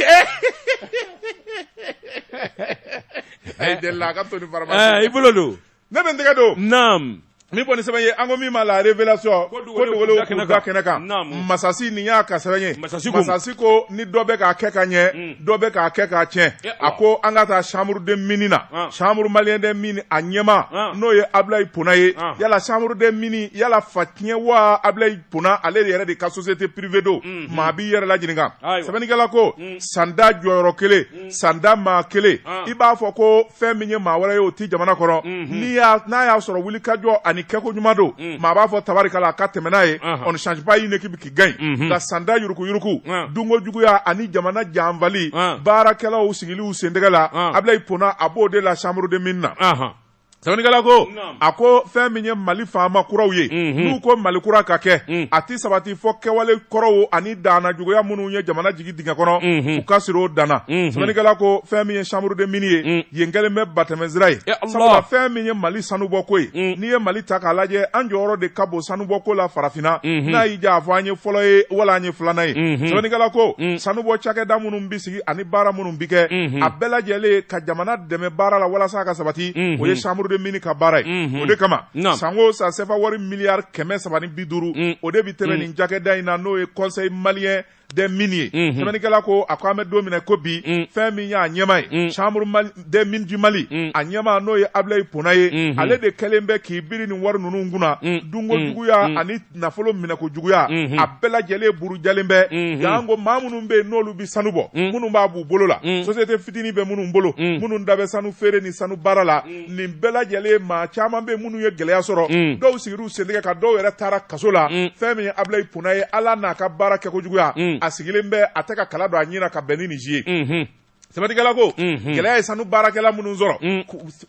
a ye deli la a ka to ni ɛɛ pharmacie i bolo don ne bɛ n tɛgɛ don naam min fɔ ni sɛbɛn ye an ko min ma la révélation Ko dogolenw da kɛnɛ kan Naamu. masasi nin y'a ka sɛbɛn ye Masasi ko- masasi ko ni dɔ bɛ k'a kɛ ka ɲɛ dɔ bɛ k'a kɛ k'a tiɲɛ Eh, a ko an ka taa chambre des mines na Ah. chambre malien des mines a ɲɛmaa Ah. n'o ye Ablaye Pona ye Ah. yala chambre des mines yala fa tiɲɛ wa Ablaye Pona ale yɛrɛ de ka société privée don unhun maa b'i yɛrɛ la ɲininka ayiwa sɛbɛnnikɛla ko un sanda jɔyɔrɔ kelen un sanda maa kelen an i b'a fɔ ko fɛn min ye maa wɛrɛ ye o ti jamana kɔnɔ unhun n'i y'a n'a y'a sɔrɔ wulikajɔ ani kɛko ɲuman don un maa b'a fɔ tabarikala a ka tɛmɛ n'a ye anhan on ne change pas une équipe qui gagne unhun nka sanda yuruku-yuruku an dunko juguya ani jamana janfali an baarakɛlaw sigili u sentɛgɛ la an Abilayi Pona a b'o de la chambre des mines na anhan Sɛbɛnnikɛla ko a ko fɛn min ye mali faama kuraw ye n'u ko mali kura ka kɛ a tɛ sabati fɔ kɛwale kɔrɔw ani dana juguya minnu ye jamana jigin dingɛ kɔnɔ u ka siri o dan na sɛbɛnnikɛla ko fɛn min ye chambre des mines ye yen kɛlen bɛ batɛmɛsira ye sabula fɛn min ye mali sanu bɔko ye n'i ye mali ta k'a lajɛ an jɔyɔrɔ de ka bon sanubɔko la farafinna n'a y'i diya a fɔ an ye fɔlɔ ye wala an ye filanan ye sɛbɛnnikɛla ko sanubɔ cakɛda minnu bɛ ani baara minnu bɛ kɛ a bɛɛ lajɛlen ka jamana dɛmɛ baara la walasa ka sabati o ye chambre des mines ka baara ye o de kama san o san sefa wari miliyari kɛmɛ saba ni bi duuru o de bɛ tɛmɛ nin cakɛda in na n'o ye conseil malien des mines ye sɛbɛnnikɛla ko a ko an bɛ don min na ko bi fɛn min y'a ɲɛmaa ye chambre des mines du mali mm. a ɲɛmaa n'o ye abilayi pona ye mm -hmm. ale de kɛlen bɛ k'i biri nin wari ninnu kunna mm. mm. dunko juguya mm. ani nafolo minɛko juguya mm -hmm. a bɛɛ lajɛlen burujalen bɛ mm -hmm. yan ko maa minnu bɛ yen n'olu bɛ sanu bɔ mm. minnu b'a b'u bolo la mm. société fitini bɛ minnu bolo mm. minnu da bɛ sanu feere ni sanu baara la mm. nin bɛɛ lajɛlen maa caman bɛ minnu ye gɛlɛya sɔrɔ mm. dɔw sigir'u sentɛgɛ kan dɔw yɛrɛ taara kaso la mm. fɛn min ye abilayi pona ye ale n'a ka baara kɛko juguya mm. a sigilen bɛ a tɛ ka kala don a ɲin na ka bɛn ni nin si ye mm -hmm. Sɛbɛnnikɛla ko gɛlɛya ye sanu baarakɛla minnu sɔrɔ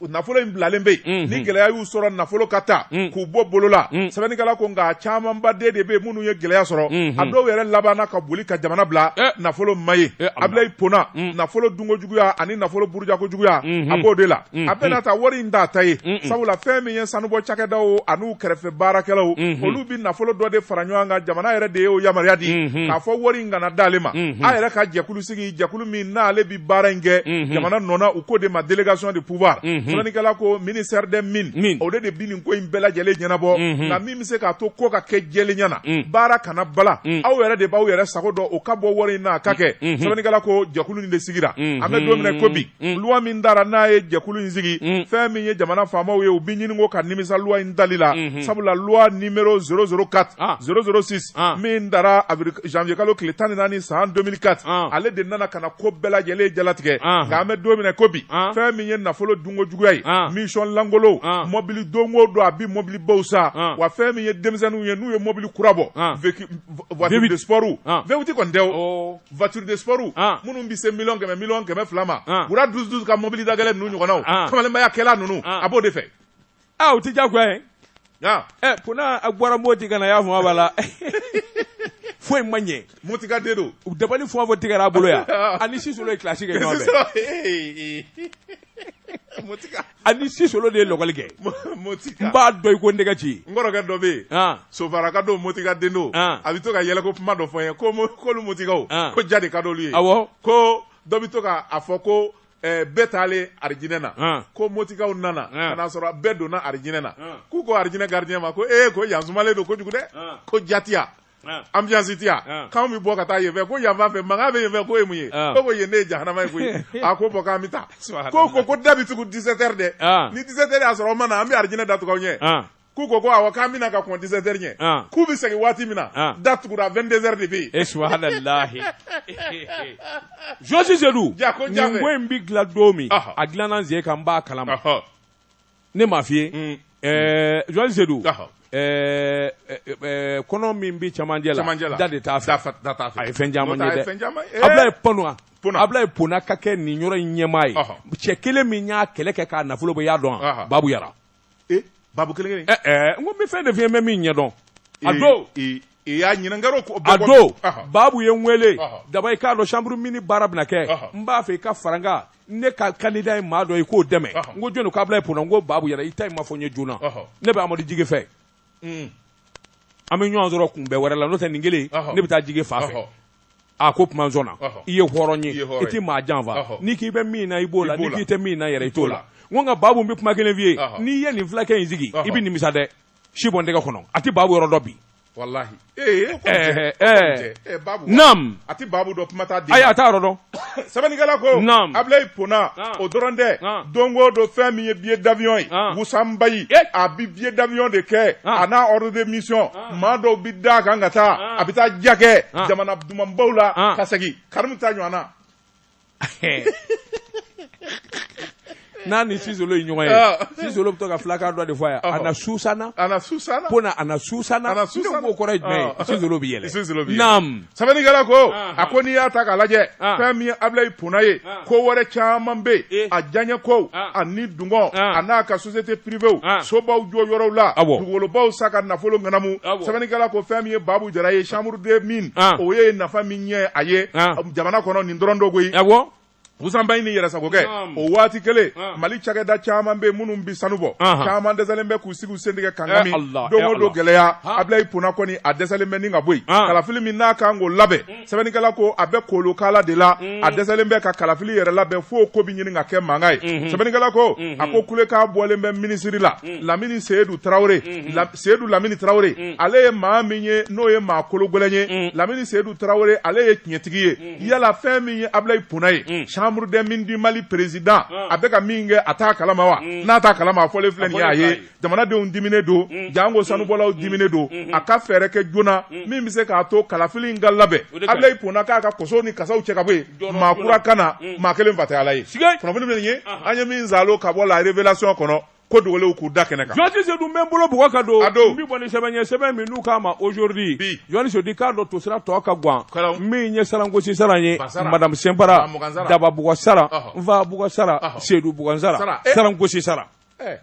nafolo in bilalen bɛ yen ni gɛlɛya y'u sɔrɔ nafolo ka taa k'u bɔ bolo la sɛbɛnnikɛla ko nka camanba de de bɛ yen minnu ye gɛlɛya sɔrɔ a dɔw yɛrɛ labanna ka boli ka jamana bila nafolo ma ye abilayi pona nafolo dunko juguya ani nafolo burujako juguya a b'o de la a bɛɛ n'a ta wari in t'a ta ye sabula fɛn min ye sanubɔ cakɛdaw ani u kɛrɛfɛ baarakɛlaw olu bɛ nafolo dɔ de fara ɲɔgɔn kan jamana yɛrɛ de ye o yamaruya di k'a fɔ wari in kana d'ale ma a yɛrɛ ka jɛkulu sigi jɛkulu min n'ale bɛ baara in kɛ mhm. jamana nɔ na u k'o de ma délégation de pouvoir mhm. sɛbɛnnikɛla ko ministère des mines o de de bi nin ko in bɛɛ lajɛlen ɲɛnabɔ mhm. nka min bɛ se k'a to ko ka kɛ jɛlenya na baara kana bala aw yɛrɛ de b'aw yɛrɛ sago dɔn o ka bɔ wari in na a ka kɛ sɛbɛnnikɛla ko jɛkulu nin de sigira an bɛ don min na ko bi Mm. loi min dara n'a ye jɛkulu in sigi mm. fɛn min ye jamana faamaw ye u bi ɲini ko ka nimisa loi in dali la mm-hmm. sabula loi numero 004 ah. 006 ah. min dara janvier kalo tile tan ni naani san 2004 ah. ale de nana ka na ko bɛɛ lajɛlen jalatigɛ ah. nka an bɛ don min na ko bi ah. fɛn min ye nafolo dunko juguya ye ah. mission lankolonw ah. mɔbili don o don a bi mɔbilibaw san ah. wa fɛn min ye denmisɛnninw ye n'u ye mɔbili kura bɔ ah. voiture de sport ah. V8 kɔni tɛ o oh. voiture de sport ah. minnu bɛ se miliyɔn kɛmɛ miliyɔn kɛmɛ fila ma ah. wura dusu dusu ka mobili dagɛlɛn ninnu ɲɔgɔnnaw ah. kamalenbaya kɛlan ninnu a b'o de fɛ aa o tɛ diyagoya ye ɛ Pona a bɔra moti ka na y'a fɔ a b'a la foyi ma ɲɛ motika den don u dabali fɔ fɔ tigɛra a bolo yan a ni sisolo ye kilasi kɛ ɲɔgɔn fɛ motika a ni sisolo de ye lɔkɔli kɛ n b'a dɔn i ko n tɛgɛ ci n kɔrɔkɛ dɔ bɛ yen sofaraka don motika den don a bɛ to ka yɛlɛko kuma dɔ fɔ n ye ko k'olu motikaw ko ja de ka d'olu ye awɔ ko dɔ bɛ to ka a fɔ ko bɛɛ taalen arijinɛ na ko motikaw nana ka n'a sɔrɔ bɛɛ donna arijinɛ na k'u ko arijinɛ gardien ma ko ee ko yan sumalen don kojugu dɛ ko ja tɛ yan ambiance tɛ yan k'an bɛ bɔ ka taa yen fɛ ko yan fan fɛ mankan bɛ yen fɛ k'o ye mun ye ko ko yen ne ye jahanama ye koyi a ko bɔ k'an bɛ taa ko ko ko da bi tugu 17 heures dɛ ni 17 heures y'a sɔrɔ aw ma na an bɛ arijinɛ da tugu aw ɲɛ k'u ko ko awɔ k'an bɛna ka kɔn 17 heures ɲɛ k'u bɛ segin waati min na da tugura 22 heures de bɛ yen e subahanallahi jɔsi sedu nin ko in bɛ dilan don min a dilanna n sen kan n b'a kalama ne m'a f'i ye mm. ɛɛ euh, journaliste Sedou ɔhɔ ɛɛ euh, euh, kɔnɔ min bɛ cɛmancɛ la cɛmancɛ la da de t'a fɛ da t'a fɛ a ye fɛn caman ye dɛ Ablaye eh. Pona Ablaye Pona ka kɛ nin yɔrɔ in ɲɛmaa ye cɛ kelen min y'a kɛlɛ kɛ k'a nafolo bɔ i y'a dɔn wa Babu Yara ee eh, Babu kelen kelen ɛɛ eh, n ko n bɛ fɛn de f'i ye n bɛ min ɲɛdɔn a don i y'a ɲininkɛr'o ko a don baabu ye n wele daba i k'a dɔn chambre mines baara bɛna kɛ n b'a fɛ i ka fara n kan ne ka candidat ye maa dɔ ye k'o dɛmɛ n ko jɔni ko abilaye pona n ko baabu yara i ta in ma fɔ n ye joona ne bɛ amadu jige fɛ hmm. an bɛ ɲɔgɔn sɔrɔ kunbɛn wɛrɛ la n'o tɛ nin kelen ne bɛ taa jige fan fɛ a ko kuma sɔnna i ye hɔrɔn ye i tɛ maa janfa n'i k'i bɛ min na i b'o la n'i k'i tɛ min na yɛrɛ i t'o la n ko nka baabu n bɛ kuma kelen f'i ye n'i ye nin fulakɛ in sigi i bɛ nimisa dɛ si bɔ n tɛgɛ kɔnɔ a tɛ baabu yɔrɔ dɔn bi walahi ee eh, ko eh, jɛ eh, eh babu nam a tɛ babu dɔn kuma t'a den ayi a t'a yɔrɔ dɔn sɛbɛnnikɛla ko nam abulayi pona o dɔrɔn tɛ don o don fɛn min ye billet d'avion ye wusanbayi a bi billet d'avion de kɛ a n'a ordre de mission maa dɔw bi da a kan ka taa a bɛ taa ja kɛ jamana dumanbaw la ka segin karimu ta ɲɔgɔn na n'a ni sisolo ye ɲɔgɔn ye ah. sisolo bɛ to ka filakan dɔ de fɔ a ye ah. ana susana ana susana ko na ana susana ana susana ko kɔrɔ ye jumɛn ye ah. sisolo bɛ yɛlɛ sisolo bɛ yɛlɛ naam sɛbɛnnikɛla ko a ko n'i y'a ta k'a lajɛ fɛn min ye Abilayi Pona ye ko wɛrɛ caman bɛ yen a diyaɲɛ kow ani dungɔ a n'a ka société privéw sobaw jɔ yɔrɔw la dugukolobaw san ka nafolo ŋanamu sɛbɛnnikɛla ko fɛn min ye Babu Jara ye chambre des mines o ye nafa min ɲɛ a ye jamana kɔnɔ nin dɔrɔn don koyi musanba in ni yɛrɛsagokɛ o waati kelen mali cakɛda caman bɛ minnu bi sanu bɔ caman dɛsɛlen bɛ k'u sigi u sentigɛ kan don o don gɛlɛya abilayi pona kɔni a dɛsɛlen bɛ ni ka bɔ yen kalafili min n'a kan k'o labɛn sɛbɛnnikɛla ko a bɛ kolokala de la a dɛsɛlen bɛ ka kalafili yɛrɛ labɛn fo ko bɛ ɲini ka kɛ mankan ye sɛbɛnnikɛla ko a ko kulekan bɔlen bɛ minisiri la lamini seyidu tarawele seyidu lamini tarawele mm. ale ye maa min ye n'o ye maa kologɛlɛn ye mm. lamini seyidu tarawele ale ye tiɲɛtigi ye mm. yala fɛn min ye abulayi pona ye mm. chambre des mines du mali président mm. a bɛ ka min kɛ a t'a kalama wa mm. n'a t'a kalama a fɔlen filɛ nin ye a ye jamanadenw diminen don mm. jango mm. sanubɔlaw mm. diminen don mm. a ka fɛɛrɛ kɛ joona mm. min bɛ se k'a to kalafili in ka labɛn abulayi pona k'a ka kosow ni kasaw cɛ ka bɔ yen maa kura ka na mm. maa kelen fa tɛ ala ye kunnafoni nin ye an ye min zalo ka bɔ la révélation kɔnɔ ko dogolenw k'u da kɛnɛ kan. Journaliste Sedu n bɛ n bolo bugɔ ka don. A don. N bɛ bɔ ni sɛbɛn ye sɛbɛn min n'u k'a ma aujourd'hui. Bi. Journaliste Sedu k'a dɔn tosira tɔ ka gwan. Kalaw. Min ye sarangosi saran ye. Ba sara. Madame Sinpara. Bamugan sara. Daba bugɔ sara. Ɔhɔ. Nfa bugɔ sara. Ɔhɔ. Sedu bugɔ sara. Sara. Eh. Sarangosi sara. Ɛɛ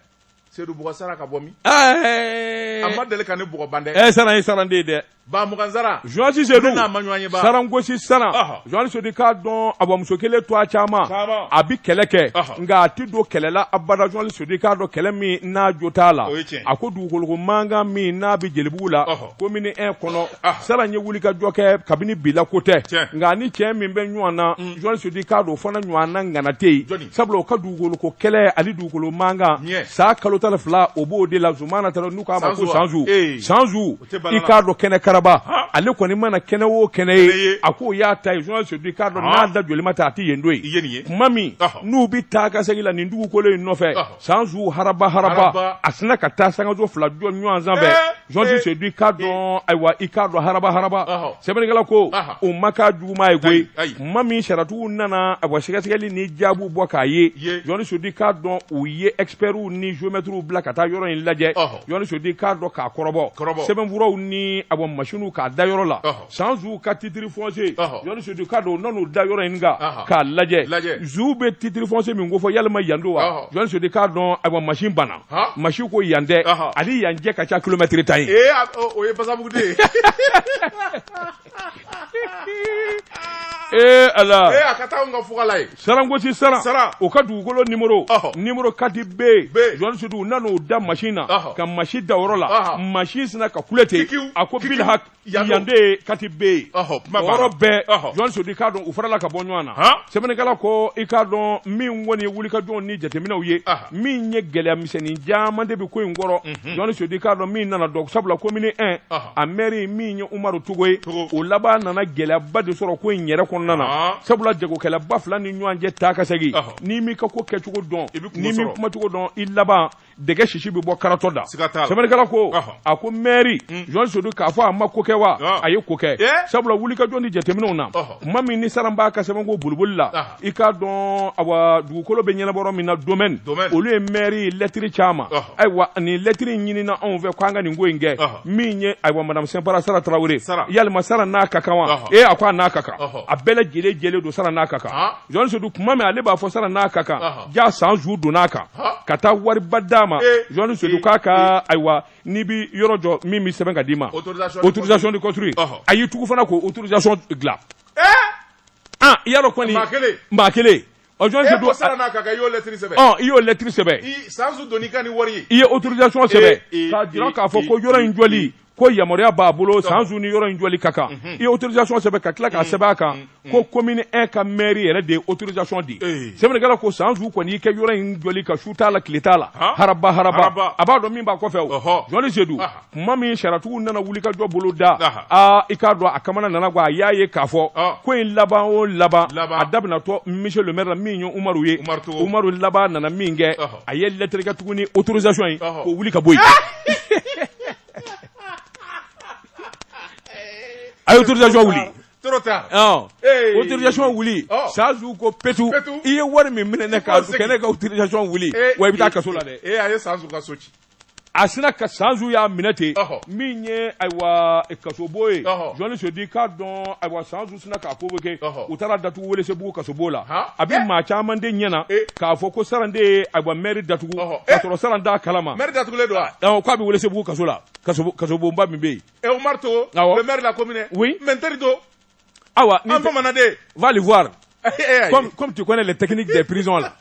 Sedu bugɔ sara ka bɔ min? Ɛɛ. A ma deli ka ne bugɔ ban dɛ. Ɛɛ saran ye saran de ye dɛ. ba mugan sara journaliste sedu n'a ma ɲɔgɔn ye ba sarangosi sara journaliste sedu k'a dɔn a bamuso kelen to a caman a bi kɛlɛ kɛ nka a ti don kɛlɛ la abada journaliste sedu k'a dɔn kɛlɛ min n'a jo t'a la a ko dugukoloko mankan min n'a bi jelibugu la komini 1 kɔnɔ saran ye wuli ka jɔ kɛ kabini bi la ko tɛ nka a ni cɛ min bɛ ɲɔgɔn na journaliste sedu k'a dɔn o fana ɲɔgɔn na ŋana tɛ yen sabula o ka dugukoloko kɛlɛ ani dugukolo mankan san kalo tan ni fila o b'o de la zumana tarawele n'u k'a ma ko sanzu sanzu i k'a dɔn kɛnɛ karaba ale kɔni mana kɛnɛ o kɛnɛ ye a k'o y'a ta ye i k'a dɔn n'a da joli ma ta a tɛ yen don ye tuma min n'u bɛ taa ka segin la nin dugukolo in nɔfɛ sanzu haraba haraba a sina ka taa sankanso fila jɔ ɲɔgɔn sanfɛ journaliste sedu k'a dɔn ayiwa i k'a dɔn haraba haraba sɛbɛnnikɛla ko o m'a ka juguman ye koyi tuma min sariyatigiw nana a sɛgɛsɛgɛli ni jaabi bɔ k'a ye journaliste sedu k'a dɔn u ye expertw ni géomètrew bila ka taa yɔrɔ in lajɛ Journaliste Sedu k'a dɔn k'a kɔrɔbɔ, kɔrɔbɔ, sɛbɛnfuraw ni ayiwa machines k'a da yɔrɔ la, ɔhɔ, San Zu ka titre foncier, ɔhɔ, Journaliste Sedu k'a dɔn u nan'o da yɔrɔ in kan, ɔhɔ, k'a lajɛ, lajɛ, Zu bɛ titre foncier min ko fɔ yalima yan don wa, ɔhɔ, Journaliste Sedu k'a dɔn ayiwa machine banna, han, machine ko yan tɛ, ɔhɔ, a ni yan cɛ ka ca kilomɛtɛrɛ tan ye, ee o ye basamugu de ye ee ala ee a ka taa ka fugala ye sarangosi sara sara o ka dugukolo nimoro nimoro 4 B jɔn sedu u nan'o da masin na ka masin da yɔrɔ la masin sinna ka kule ten a ko bil hak yande 4 B yɔrɔ bɛɛ jɔn sedu k'a dɔn u farala ka bɔ ɲɔgɔn na sɛbɛnnikɛla ko i k'a dɔn min kɔni ye wulikajɔw ni jateminɛw ye min ye gɛlɛya misɛnnin caman de bɛ ko in kɔrɔ jɔnni sedu k'a dɔn min nana dɔn sabula commune 1 a mɛri min ye umaru togo ye o laban nana gɛlɛyaba de sɔrɔ ko in yɛrɛ kɔnɔna na sabula jagokɛlaba fila ni ɲɔgɔn cɛ taa ka segin n'i m'i ka ko kɛcogo dɔn n'i m'i kumacogo dɔn i laban dɛgɛ sisi bɛ bɔ karatɔ da sɛbɛnnikɛla ko a ko mɛri jɔn sedu k'a fɔ a ma ko kɛ wa a ye ko kɛ sabula wulikajɔ ni jateminɛw na kuma min ni sara b'a ka sɛbɛnko boloboli la i k'a dɔn awa dugukolo bɛ ɲɛnabɔ min na domaine olu ye maire ye lɛtiri caman ayiwa nin lɛtiri ɲinina anw fɛ k'an ka nin ko in kɛ min ye ayiwa madame Sɛnpara Sara Tarawele yalima Sara n'a ka kan wa ee a ko a n'a ka kan a bɛɛ lajɛlen jɛlen don Sara n'a ka kan Jɔn Sedu kuma min ale b'a fɔ Sara n'a ka kan jaa san zu donna a kan ka taa wariba d'a ma Jɔn Sedu k'a ka ayiwa n'i bɛ yɔrɔ jɔ min bɛ sɛbɛn ka d'i ma autorisation de construire a y'i tugu fana k'o autorisation dilan. aa i y'a dɔn kɔni maa kelen maa kelen ɔ jɔn e tɛ ko don sara n'a ka kan i y'o lɛtiri sɛbɛn ɔ i y'o lɛtiri sɛbɛn i san zu donn'i kan ni wari ye i ye autorisation sɛbɛn e, e, k'a jira e, k'a fɔ e, ko yɔrɔ in jɔli ko yamaruya b'a bolo san zu ni yɔrɔ in jɔli ka kan i ye autorisation sɛbɛn ka tila k'a sɛbɛn a kan ko commune 1 ka maire yɛrɛ de ye autorisation di Ee. sɛbɛnnikɛla ko san zu kɔni i kɛ yɔrɔ in jɔli kan su t'a la tile t'a la Haa. haraba haraba Haraba. a b'a dɔn min b'a kɔfɛ o Ɔhɔ. jɔni sedu Aha. kuma min sariyatigiw nana wulikajɔ boloda aa i k'a dɔn a kamana nana gwan a y'a ye k'a fɔ ko in laban o laban a daminatɔ monsieur le maire la min ye umaru ye umaru laban nana min kɛ a ye lettre kɛ tuguni autorisation ye k'o wuli ka bɔ yen a ye autorisation wuli trop tard. Ɔn. Ee. Autorisation wuli. Ɔ. San zu ko petu. Petu. I ye wari min minɛ ne kan, K'o segin. kɛ ne ka autorisation wuli. Ee. Wa i bɛ taa kaso la dɛ. Ee a ye san zu ka so ci. a sinna ka sanzu y'a minɛ ten min ye ayiwa kasobon ye jɔni sedu k'a dɔn ayiwa sanzu sinna k'a convoqué u taar'a datugu welesebugu kasobon na a bɛ maa caman de ɲɛ na k'a fɔ ko saran de ye ayiwa mɛri datugu ka sɔrɔ saran t'a kalama mɛri datugulen don wa k'a bɛ welesebugu kaso la kasobonba min bɛ yen ɛ umaru togo le maire de la commune oui mais n teri to Awa an bamanan de va le voir comme comme tu connais les techniques des prisons là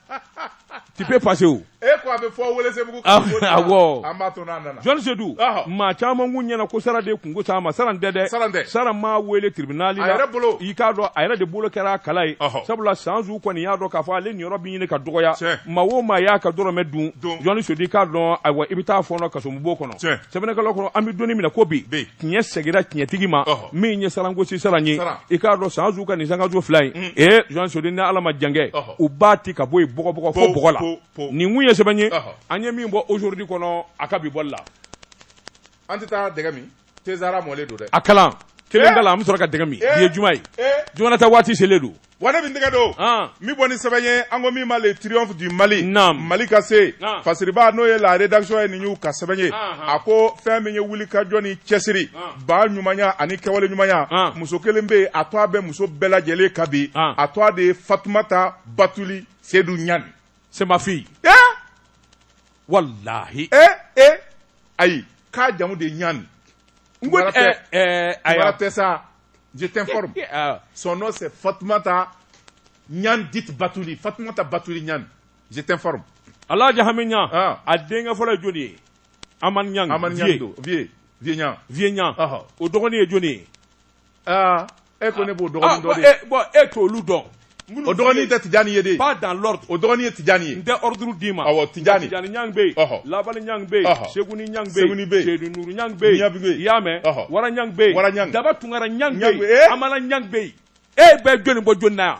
tu peux passer où e ko a bɛ fɔ Welesebugu ah, awɔ an b'a to n'a nana John Sedu maa caman kun ɲɛna ko sara de kunko sa a ma sara tɛ dɛ sara tɛ sara m'a wele tribunal la a yɛrɛ bolo i k'a dɔn a yɛrɛ de bolo kɛra a kala ye sabula san zu kɔni y'a dɔn k'a fɔ ale niyɔrɔ bɛ ɲini ka dɔgɔya maa o maa y'a ka dɔrɔmɛ dun John Sedu i k'a dɔn ayiwa i bɛ taa fɔɔnɔ kasobon kɔnɔ sɛbɛnnikɛla ko an bɛ don min na ko bi tiɲɛ segira tiɲɛtigi ma min ye sarangosi saran ye i k'a dɔn san zu ka nin sankajo fila in mm. ee jean sodi ni ala ma jankɛ u b'a ti ka bɔ yen bɔgɔbɔgɔ fo bɔgɔ la nin kun ye sɛbɛn ye an ye min bɔ aujourd'hui kɔnɔ a ka bi bɔli la an tɛ taa dɛgɛ min tezara mɔlen don dɛ a kalan kelen da la an bɛ sɔrɔ ka dɛgɛ min bi ye juma ye juma na taa waati selen don Wa ne bɛ n tɛgɛ don min bɔ ni sɛbɛn ye an ko min ma le triomphe du Mali Mali ka se fasiriba n'o ye la rédaction ye nin y'u ka sɛbɛn ye a ko fɛn min ye wuli ka jɔ ni cɛsiri ba ɲumanya ani kɛwale ɲumanya muso kelen bɛ yen a tɔgɔ bɛ muso bɛɛ lajɛlen kan bi a tɔgɔ de ye Fatumata Batuli Sedu Ɲani c'est ma fille walahi e e ayi k'a jamu de ɲani n ko ayiwa tɛ sa je t'informe son nom c'est Fatumata ɲani dite Batuli Fatumata Batuli ɲani je t'informe Alhaji Hami ɲan a denkɛ fɔlɔ ye jɔni ye Amani ɲani Amani ɲani don vieux vieux ɲan vieux ɲan o dɔgɔnin ye jɔni ye e ko ne b'o dɔgɔnin dɔn dɛ bon e t'olu dɔn o dɔgɔnin tɛ Tijani ye dɛ pas dans l'ordre o dɔgɔnin ye Tijani ye n tɛ ordre d'i ma awɔ Tijani Tijani Niang bɛ yen ɔhɔ Labali Niang bɛ yen ɔhɔ Sekuni Niang bɛ yen Sekuni bɛ yen Sedu Nuru Niang bɛ yen Niang bɛ yen i y'a mɛn ɔhɔ Wara Niang bɛ yen Wara Niang Daba Tunkara Niang bɛ yen Amala Niang bɛ yen e bɛ jɔni bɔ jɔni na yan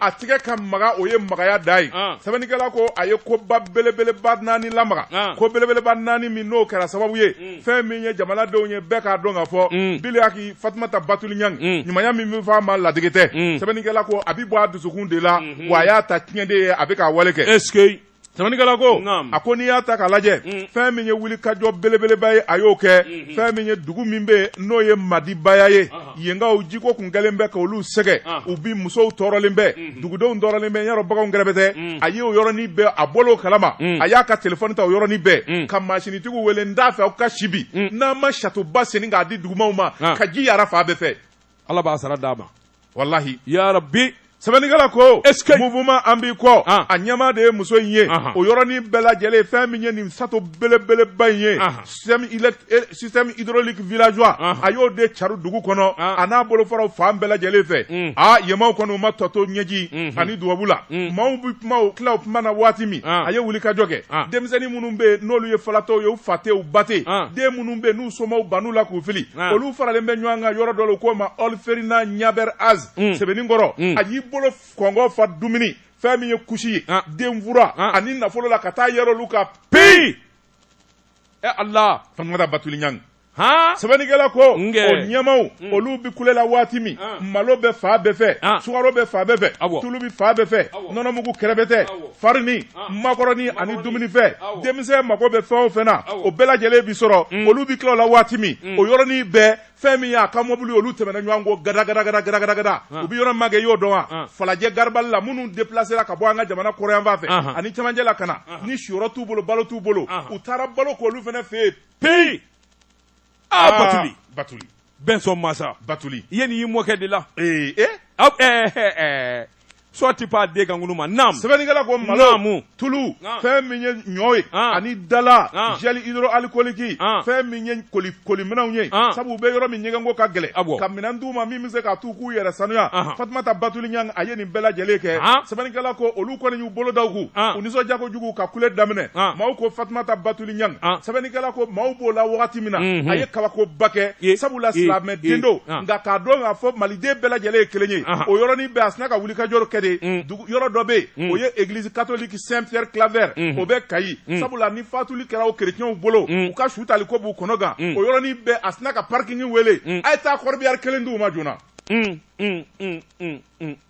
a tigɛ ka magan o ye magaya dan ye sɛbɛnnikɛla ko a ye koba belebeleba naani lamaga ko belebeleba naani min n'o kɛra sababu ye mm. fɛn min ye jamanadenw ye bɛɛ k'a dɔn ka fɔ mm. biliyaki fatumata batuli ɲangi mm. ɲumanya min bɛ fɔ a ma ladege tɛ sɛbɛnnikɛla ko a bɛ bɔ a dusukun de la mm-hmm. wa a y'a ta tiɲɛ de ye a bɛ k'a wale kɛ Sɛbɛnnikɛla ko, naamu, a ko n'i y'a ta k'a lajɛ, un, fɛn min ye wulikajɔ belebeleba ye a y'o kɛ, unhun, fɛn min ye dugu min bɛ yen n'o ye Madibaya ye, ɔhɔ, yenkaw jiko tun kɛlen bɛ k'olu sɛgɛn, ɔhɔ, u bi musow tɔɔrɔlen bɛ, unhun, dugudenw tɔɔrɔlen bɛ, yɔrɔ baganw kɛrɛbɛtɛ, un, a ye o yɔrɔnin bɛɛ a bɔra o kalama, un, a y'a ka telefɔni ta o yɔrɔnin bɛɛ, un, ka mansinitigiw wele n t'a fɛ aw ka si bi, un, n'aw ma satoba senni k'a di dugumaaw ma, an, ka ji yaara fan bɛɛ fɛ. Ala b'a sara d'a ma walahi ya rabbi sɛbɛnnikɛla ko mouvement an b'i kɔ ah. a ɲɛmaa de ye muso in ye o yɔrɔnin bɛɛ lajɛlen fɛn min ye nin sato belebeleba in ye système hydraulique villageoise a y'o de cari dugu kɔnɔ ah. a n'a bolofaraw fan bɛɛ lajɛlen fɛ mm. a yenmaaw kɔni u ma tɔ to ɲɛji mm-hmm. ani dubabu la mm. maaw bɛ kuma o tila o kuma na waati min ah. a ye wulikajɔ kɛ denmisɛnnin minnu bɛ yen n'olu ye falatɔw ye u fa tɛ u ba tɛ den minnu bɛ yen n'u somaw ban'u la k'u fili Ah. olu faralen bɛ ɲɔgɔn kan yɔrɔ dɔ la u k'o ma orphelinat ɲabɛr az mm. sebeninkɔrɔ mm. a y'i bolo kɔnɔ fa dumuni fɛn min ye kusi ye ah. denfura ah. ani nafolo la ka taa yɛrɛ olu ka peyi ɛ ala fatumata batuli ɲangi sɛbɛnnikɛla ko o ɲɛmaaw mm. olu bɛ kule la waati min malo bɛ fan bɛɛ fɛ sukaro bɛ fan bɛɛ fɛ tulu bɛ fan bɛɛ fɛ nɔnɔmugu kɛrɛbɛtɛ farini makɔrɔni ani dumunifɛn denmisɛn mago bɛ fɛn o fɛn na o bɛɛ lajɛlen bi sɔrɔ mm. olu bi tila la waati min mm. o yɔrɔnin bɛɛ fɛn min y'a ka mɔbili olu tɛmɛna ɲɔgɔn kɔ gadagadagadagadagada u bɛ yɔrɔ magɛn y'o dɔn wa falajɛ garibali la minnu depilasera ka bɔ an ka jamana kɔrɔyanfan fɛ ani cɛmancɛ la ka na ni siyɔrɔ t'u bolo balo t'u bolo u taara balo k'olu fɛnɛ fɛ yen peyi aa batuli batuli bɛnsɔn masa batuli i ye nin y'i mɔkɛ de la ee e aw ɛɛ ɛɛ sɔ ti pa den kankulu ma naamu sɛbɛnnikɛla ko malo naamu tulu Naamu. fɛn min ye ɲɔ ye Naamu. ani dala Naamu. gel hydroalcoolique Naamu. fɛn min ye koli koliminɛnw ye Naamu. sabu u bɛ yɔrɔ min ɲɛgɛnko ka gɛlɛn Awɔ. ka minɛn d'u ma min bɛ se k'a t'u k'u yɛrɛ sanuya Ahan. fatumata batuli ɲang a ye nin bɛɛ lajɛlen kɛ Ahan. sɛbɛnnikɛla ko olu kɔni y'u bolo da u kun Ahan. u nisɔndiya kojugu ka kule daminɛ Ahan. maaw ko fatumata batuli ɲang ah. sɛbɛnnikɛla ko maaw b'o la wagati min na mhm. a ye kabakoba kɛ sabula silamɛ den don ah. nka k'a dɔn k'a fɔ maliden bɛɛ lajɛlen ye kelen ye ah. o yɔrɔnin bɛɛ a sina ka wulikajɔ kɛ de mm. yɔrɔ dɔ bɛ yen mm. o ye église catholique saint pierre claver mm. o bɛ kayi sabula ni fatuli kɛra o kerecɛnw bolo u ka su tali ko b'u kɔnɔ gan o yɔrɔnin bɛɛ a sina ka parking wele a ye taa corbillard kelen di u ma joona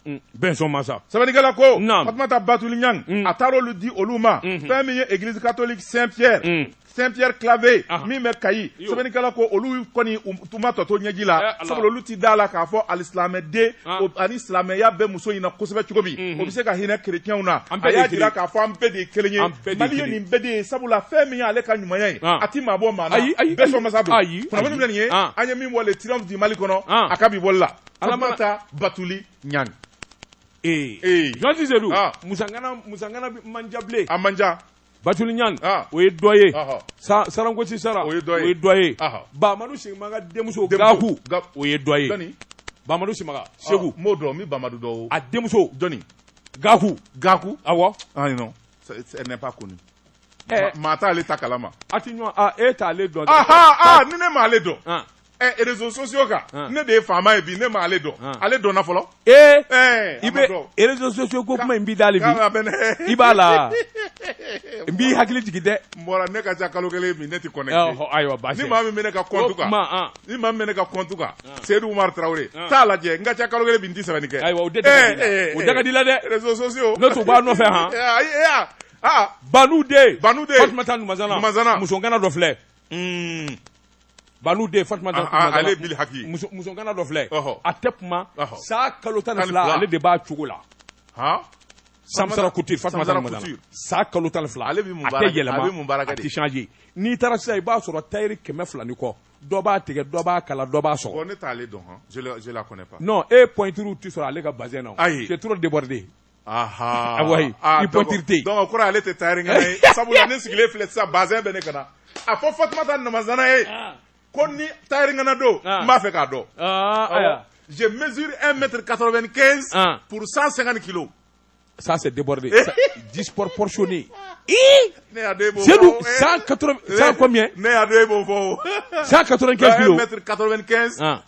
Mm. bɛnsɔn masa sɛbɛnnikɛla ko fatumata batuli ɲang mm. a taara olu di olu ma mm-hmm. fɛn min ye église catholique saint pierre mm. saint pierre claver ah. min bɛ kayi sɛbɛnnikɛla ko olu kɔni u ma tɔ to ɲɛji la eh, sabula olu tɛ da la k'a fɔ alisilamɛden ah. ani silamɛya bɛ muso in na kosɛbɛ cogo min mm-hmm. o bɛ se ka hinɛ kerecɛnw na a y'a jira k'a fɔ an bɛɛ de ye kelen ye mali ye nin bɛɛ de ye sabula fɛn min y'ale ka ɲumanya ye ah. a tɛ maa bɔ maa na bɛnsɔn masa don kunnafoni bɛ nin ye an ye min bɔ le triomphe du mali kɔnɔ a ka bi bɔli la Fatumata batuli ɲang ee ee jɔn tɛ se dun ah. musoŋana musoŋanaba man ca bilen a man ca batuli ɲang ah. o ye dɔ ye sa sarankosi sara o ye dɔ ye o ye dɔ ye bamadu simaga denmuso gaku o ye dɔ ye bamadu simaga segu ah, m'o dɔn n bɛ bamadu dɔn a denmuso jɔni gaku gaku awɔ ayi non ce n'est pas connu eh. maa t'ale ta kalama a ti ɲɔgɔn e t'ale dɔn ni ne m'ale dɔn réseaux sociaux kan ne de ye faama ye bi ne ma ale dɔn ale dɔn fɔlɔ ee i bɛ réseaux sociaux ko kuma in b'i dali bi i b'a la n b'i hakili jigin dɛ n bɔra ne ka ca kalo kelen ne tɛ connecté ayiwa ni maa min bɛ ne ka compte kan ni maa bɛ ne ka compte kan seyidu tarawele t'a lajɛ n ka ca kalo kelen n tɛ sɛbɛnni kɛ ayiwa o da ka di la dɛ réseaux sociaux ne tun b'a nɔfɛ h banu den banu den fatumata numazana musoŋana dɔ filɛ Banu den Fatumata Ɔhɔ, Numazana, ale ye Bili Haki ye. muso musoŋana dɔ filɛ Ɔhɔ. a tɛ kuma Ɔhɔ. saa kalo tan ni Tan ni fila fila. ale de b'a cogo la Han? samsara couture Fatumata Samsara Numazana Couture. saa kalo tan ni fila Ale bɛ mun a baara tɛ kɛ? yɛlɛma A bɛ mun baara kɛ a de? tɛ changer n'i taara sisan i b'a sɔrɔ tailleur kɛmɛ fila ni kɔ dɔ b'a tigɛ dɔ b'a kala dɔ b'a sɔgɔ Bon, ne t'ale dɔn han. Je le- je la connais pas. non e pointure tɛ sɔrɔ ale ka bazɛn na o. Ayi. c'est trop débordé Aa ipte kɔrɔ ale tɛ tari ye sabula ne sigilen filɛ sisan baz bɛ ne ka na a ko fa taa namazana ye ko ni tarikɛnɛ don n b'a fɛ k'a dɔn ze misiri e mɛtiri ka bɛ kɛ puru san san ni kilo san de jiɔrɔsnen ne ka b'o fɔ san ka kilo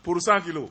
puru san kilo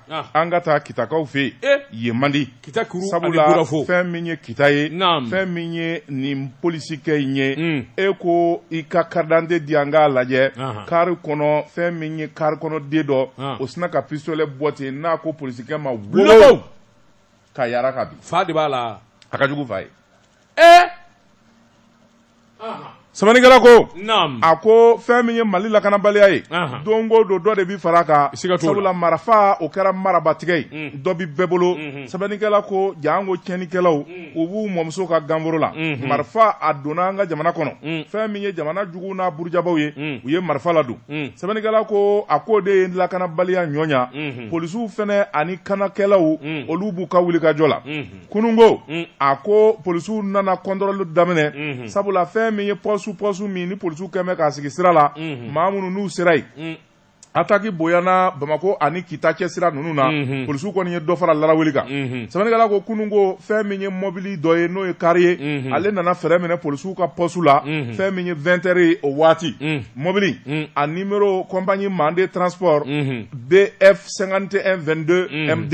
an ka taa kitakaw fɛ yen manden kita sabula fɛn min ye kita ye fɛn min ye nin polisikɛ in ye mm. e ko i ka karidante di an k'a lajɛ kari kɔnɔ fɛn min ye kari kɔnɔ den dɔ o sina ka pistolɛ bɔ ten n'a ko polisikɛ ma wo ka yara ka bin fa de b'a la a ka jugu fa ye sɛbɛnnikɛla ko a ko fɛn min ye mali lakanabaliya ye don ko don dɔ de bɛ fara kan sabula marifa o kɛra marabatigɛ ye mm. dɔ bi bɛɛ bolo mm-hmm. sɛbɛnnikɛla ko janko tiɲɛnikɛlaw mm. u b'u mɔmuso ka ganforo la mm-hmm. marifa a donna an ka jamana kɔnɔ mm. fɛn min ye jamana jugu n'a burujabaw ye u ye marifa ladon sɛbɛnnikɛla ko a ko de ye lakanabaliya ɲɔɲa mm-hmm. polisiw fɛnɛ ani kanakɛlaw olu b'u ka wulikajɔ la kununko a ko polisiw nana kɔntɔrɔli daminɛ sabula fɛn min ye pɔsu pɔsu min ni polisiw kɛmɛ k'a sigi sira la maa minnu n'u sera yen ataki bonyana bamakɔ ani kita cɛ sira ninnu na polisiw kɔni ye dɔ fara laraweli kan sɛbɛnnikɛla ko kununko fɛn min ye mɔbili dɔ ye n'o ye kari ye ale nana fɛrɛn minɛ polisiw ka pɔsu la fɛn min ye vingt heures ye o waati mɔbili a numéro compagnie manden transport bf cinquante et un vingt-deux md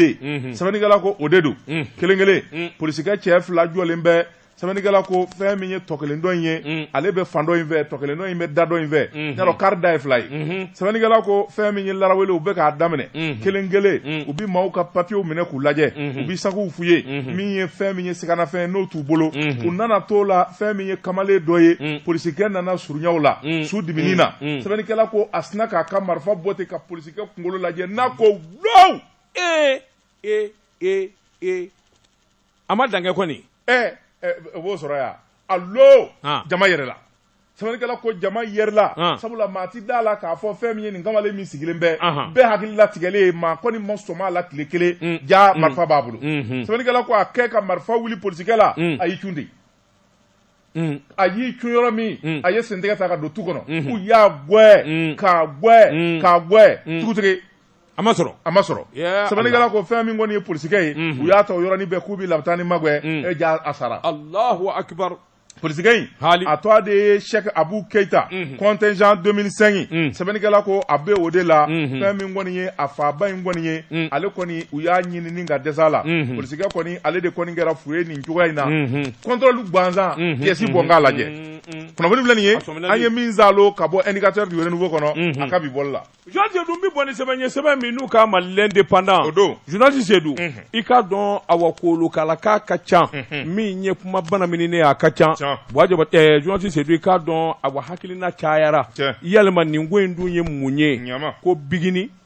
sɛbɛnnikɛla ko o de don kelen kelen polisikɛ cɛ fila jɔlen bɛ sɛbɛnnikɛla ko fɛn min ye tɔ kelen dɔ in ye ale bɛ fan dɔ in fɛ tɔ kelen dɔ in bɛ da dɔ in fɛ y'a dɔn kari da ye fila ye sɛbɛnnikɛla ko fɛn min ye laraweli u bɛ k'a daminɛ kelen kelen u bɛ maaw ka papiyew minɛ k'u lajɛ u bɛ sakuw fuye min ye fɛn min ye siganafɛn n'o t'u bolo u nana t'o la fɛn min ye kamalen dɔ ye polisikɛ nana surunya o la su dimini na sɛbɛnnikɛla ko a sina k'a ka marifa bɔ ten ka polisi kɛ kunkolo lajɛ n'a ko wow ee ee ee ee a ma dankɛ kɔni ɛɛ o b'o sɔrɔ yan alo jama yɛrɛla sɛbɛnnikɛla ko jama yɛrɛla ah. sabula maa ti da la k'a fɔ fɛn min ye nin kamalen min sigilen bɛ bɛɛ hakili latigɛlen ye maa kɔni ma sɔm'a la tile kelen mm. ja mm. marifa b'a bolo mm-hmm. sɛbɛnnikɛla ko a kɛ ka marifa wuli polisikɛ la mm. a y'i cun de Mm. a y'i cun yɔrɔ min mm. a ye sentɛgɛ ta ka don tu kɔnɔ mm-hmm. u y'a gwɛ mm. k'a gwɛ k'a gwɛ dugutigi a ma sɔrɔ a ma sɔrɔ sɛbɛnnikɛla ko fɛn min kɔni ye polisikɛ ye mm-hmm. u y'a ta o yɔrɔnin bɛɛ k'u bɛ labitani magwɛ e jaa a sara alahu akibaru polisikɛ in a tɔ de ye sɛk abu keyita mm-hmm. contingent 2005 sɛbɛnnikɛla ko a bɛ o de la fɛn min kɔni ye a faba in kɔni ye ale kɔni u y'a ɲinini ka dɛsɛ la polisikɛ kɔni ale de kɔni kɛra fu ye nin cogoya in na contrôle gansan pièce bɔ k'a lajɛ kunnafoni filɛ nin ye an ye min zalo ka bɔ indicateur du renouveau kɔnɔ a ka bi bɔli la journaliste seydou n bɛ bɔ ni sɛbɛn ye sɛbɛn min n'u k'a ma l'indépendant o don journaliste seydou i k'a dɔn awa kolokala k'a ka ca min ye kuma bana min ne a ka ca journaliste seydou i k'a dɔn awa hakilina cayara yalima nin ko in dun ye mun ye ko bingini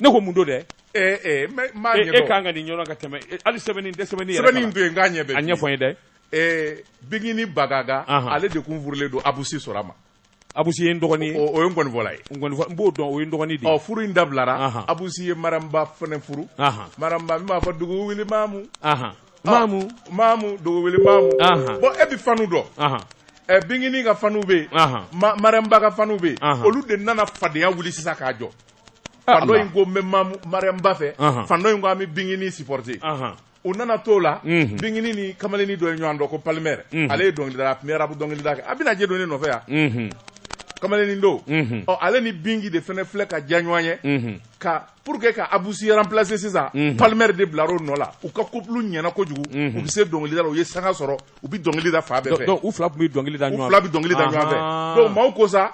ne ko mun don dɛ e kan ka nin ɲɔgɔn ka tɛmɛ hali sɛbɛn tɛ sɛbɛn sɛbɛn to yen k'a ɲɛ a ɲɛfɔ n ye dɛ bingini bagaga ale de kun furulen don abusi sora ma abusi ye n dɔgɔnin ye o ye nkɔnifɔla ye n b'o dɔn o ye n dɔgɔnin de furu in dabilara abusi ye mariyamuba fana furu mariyamuba min b'a fɔ dugu wuli mamu mamu mamu dugu wuli mamu bon e bɛ fanw dɔn ɛ bingini ka fanw bɛ yen mariyamuba ka fanw bɛ yen olu de nana fadenya wuli sisan k'a jɔ fan dɔ in ko n bɛ mariyamuba fɛ fan dɔ in ko an bɛ bingini supporter u nana t'o la mhm. bingini ni kamalenni dɔ ye ɲɔgɔn dɔn ko palmer mhm. ale ye dɔnkilidala a tun bɛ rap dɔnkilida kɛ a bɛna je don ne nɔfɛ yan mhm. kamalenni don ɔ ale ni bingi de fana filɛ ka diya ɲɔgɔn ye ka pour que ka abusi remplacer sisan palmer de bilar'o nɔ la u ka couple ɲɛna kojugu u bɛ se dɔnkilida la u ye sanga sɔrɔ u bɛ dɔnkili da fan bɛɛ fɛ u fila tun bɛ dɔnkili da ɲɔgɔn fila bɛ dɔnkili da ɲɔgɔn fɛ donc maaw ko sa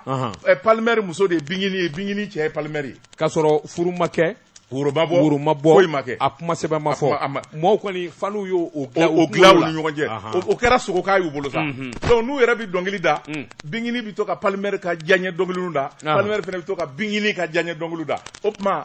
palmer muso de ye bingini ye bingini cɛ ye palmer ye k'a sɔrɔ furu ma kɛ woro ma bɔ woro ma bɔ foyi ma kɛ a kuma sɛbɛn ma fɔ maaw kɔni faniw y'o o dilan o dilan u ni ɲɔgɔn cɛ o kɛra sogoka y'u bolo sa donc n'u yɛrɛ bɛ dɔnkili da bingini bɛ to ka palmer ka diyaɲɛ dɔnkiliw da palmer fana bɛ to ka bingini ka diyaɲɛ dɔnkiliw da o tuma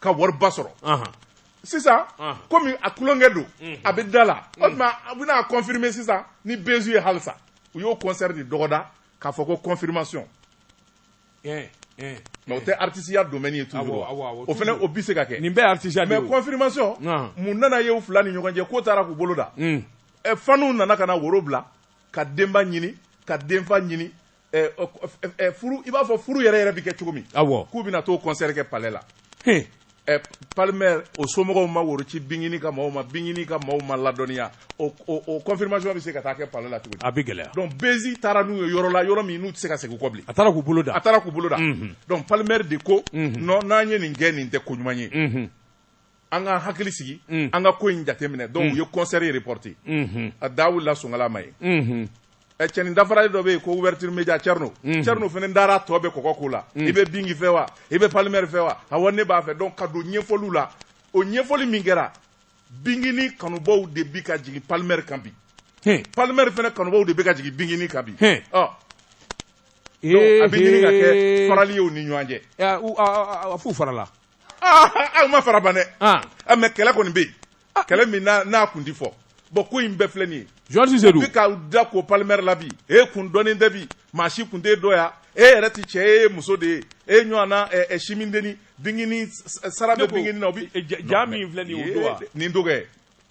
ka wariba sɔrɔ sisan komi a tulonkɛ don a bɛ da la o tuma a bɛna confirmer sisan ni buzz ye halisa u y'o concert de dɔgɔda k'a fɔ ko confirmation mais o tɛ artisiya domaine ye toujours o fana o bɛ se ka kɛ nin bɛɛ artisiya mais confirmation mun nana ye u fila ni ɲɔgɔn cɛ ko taara k'u bolo dan faniw nana ka na woro bila ka denba ɲini ka denfa ɲini i b'a fɔ furu yɛrɛ yɛrɛ bɛ kɛ cogo min k'u bɛna t'o concert kɛ palais la palmer o somɔgɔw ma woro ci bingini ka maaw ma bingini ka maaw ma ladɔnniya o confirmation bɛ se ka taa kɛ palais la cogo di a bɛ gɛlɛya donc buzz taara n'u ye yɔrɔ la yɔrɔ min n'u tɛ se ka segin kɔ bilen a taara k'u bolo dan a taara k'u bolo dan donc palmer de ko n'an ye nin kɛ nin tɛ ko ɲuman ye an ka hakili sigi mm. an ka ko in jateminɛ donc mm. u ye concert ye reporté mm-hmm. a da wulila songala ma ye mm-hmm. eh, cɛnin dafarali dɔ bɛ yen ko ouverture média Thierno mm-hmm. Thierno fana dara tɔ bɛ kɔkɔ ko la mm. i bɛ Bigui fɛ wa i bɛ Palmer fɛ wa awa ne b'a fɛ donc ka don ɲɛfɔliw la o ɲɛfɔli min kɛra Biguini kanubaw de bi ka jigin Palmer kan bi Palmer fana kanubaw de bɛ ka jigin Biguini kan bi ɔ a bɛ ɲini ka kɛ farali ye u ni ɲɔgɔn cɛ a f'u farala aw ma fara ban dɛ mais kɛlɛ kɔni bɛ yen kɛlɛ min n'a kun tɛ fɔ bon ko in bɛɛ filɛ nin ye journaliste Seydou bɛ ka da ko Palmer la bi e kun dɔnni tɛ bi maa si kun tɛ dɔ yan e yɛrɛ tɛ cɛ e ye muso de ye e ɲɔgɔn na simindenini Biguini sara bɛ Biguini na o bɛ ja min filɛ nin ye nin dɔgɔ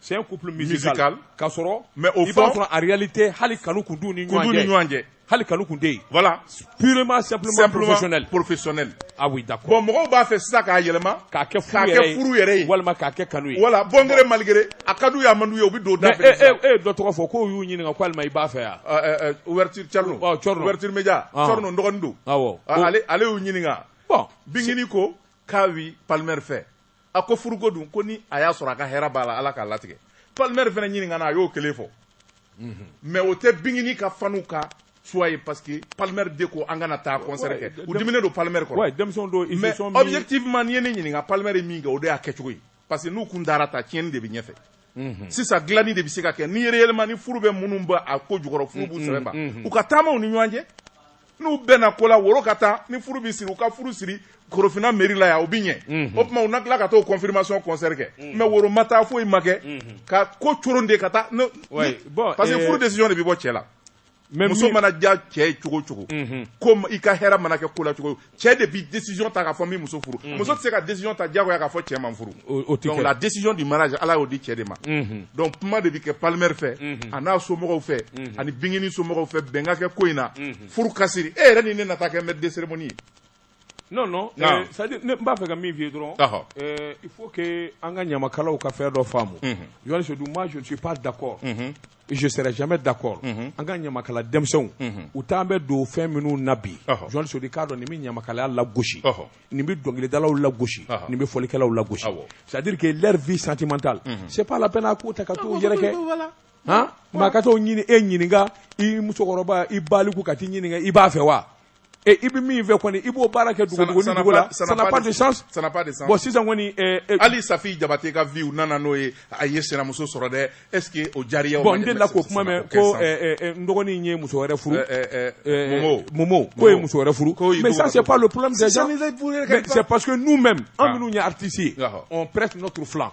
c'est un couple musical, musical. k'a sɔrɔ mais au fond i b'a sɔrɔ en réalité hali kanu kun t'u ni ɲɔgɔn cɛ hali kanu kun tɛ yen voilà purement simplement, simplement professionnel professionnel ah oui d'accord bon mɔgɔw b'a fɛ sisan k'a yɛlɛma k'a kɛ furu yɛrɛ ye furu yɛrɛ ye walima k'a kɛ kanu ye voilà bon gré mal gré a ka d'u ye a man d'u ye u bɛ don da fɛ sisan e e dɔ tɔgɔ fɔ k'o y'u ɲininka ko alima i b'a fɛ yan ah, eh, eh, ouverture Thierno ah, ouverture média ah. Thierno n dɔgɔnin don awɔ ale ale y'u ɲininka bon Biguini ko k'a bi Palmer fɛ a ko furuko dun ko ni a y'a sɔrɔ a ka hɛrɛ b'a la ala k'a latigɛ Palmer fana ɲininkana a y'o kelen fɔ mhm. mais o tɛ Biguini ka fanw ka souhait ye parce que Palmer de ko an kana taa concert kɛ u diminen don Palmer kɔrɔ mais objectivement n'i ye ne ɲininka Palmer ye min kɛ o de y'a kɛcogo ye parce que n'u kun dara ta tiɲɛni de bɛ ɲɛfɛ mhm. sisan dilanni de bɛ se ka kɛ ni réellement ni furu bɛ minnu bɛ a ko jukɔrɔ furu b'u mhm, sɛbɛn ban mhm. u ka taama u ni ɲɔgɔn cɛ n'u bɛnna ko la woro ka taa ni furu bɛ siri u ka furu siri Korofina mairie la yan o bɛ ɲɛ o tuma u na tila ka taa confirmation concert kɛ mais woro ma taa foyi ma kɛ ka ko coron de ka taa parce que eh, furu décision de bɛ bɔ cɛ la mais muso mana diya cɛ ye cogo cogo ko i ka hɛrɛ mana kɛ ko la cogo cɛ de bi décision ta k'a fɔ n bi muso furu muso tɛ se ka décision ta diyagoya k'a fɔ cɛ ma n furu donc la décision du mariage ala y'o di cɛ de ma donc kuma de bi kɛ Palmer fɛ an'a somɔgɔw fɛ ani Biguini somɔgɔw fɛ bɛn ka kɛ ko in na furu ka siri e yɛrɛ ni ne na taa kɛ maître de cérémonie ye non non Naam. c'est à dire ne n b'a fɛ ka min f'i ye dɔrɔn Ɔhɔ. euh, il faut que an ka ɲamakalaw ka fɛn dɔ faamu Mhm. journaliste Seydou moi je ne suis pas d'accord Mhm. et je serai jamais d'accord Mhm. an ka ɲamakala denmisɛnw Mhm. u t'an bɛ don fɛn minnu na bi Ɔhɔ. journaliste Seydou k'a dɔn nin bɛ ɲamakalaya lagosi Ɔhɔ. nin bɛ dɔnkilidalaw lagosi Ɔhɔ. nin bɛ fɔlikɛlaw lagosi Awɔ. c'est à dire que leur vie sentimentale Mhm. c'est pas la peine a k'u ta ka t'u yɛrɛ kɛ Voilà. han maa ka t'o ɲini e ɲininka i musokɔrɔba i baliku ka t'i ɲininka i b'a fɛ wa Et i bɛ min fɛ kɔni i b'o baara kɛ dugu ni dugu la ça n'a pas de sens ça n'a pas de sens bon sisan kɔni hali Safi Jabate ka vie u nana n'o ye a ye sinamuso sɔrɔ dɛ est ce que o diyar'i ye bon n delila k'o kuma mɛn ko n dɔgɔnin ye muso wɛrɛ furu Momo Momo k'o ye muso wɛrɛ furu mais ça c'est pas le problème des gens c'est parce que nous même an minnu ye artistes ye on prête notre flanc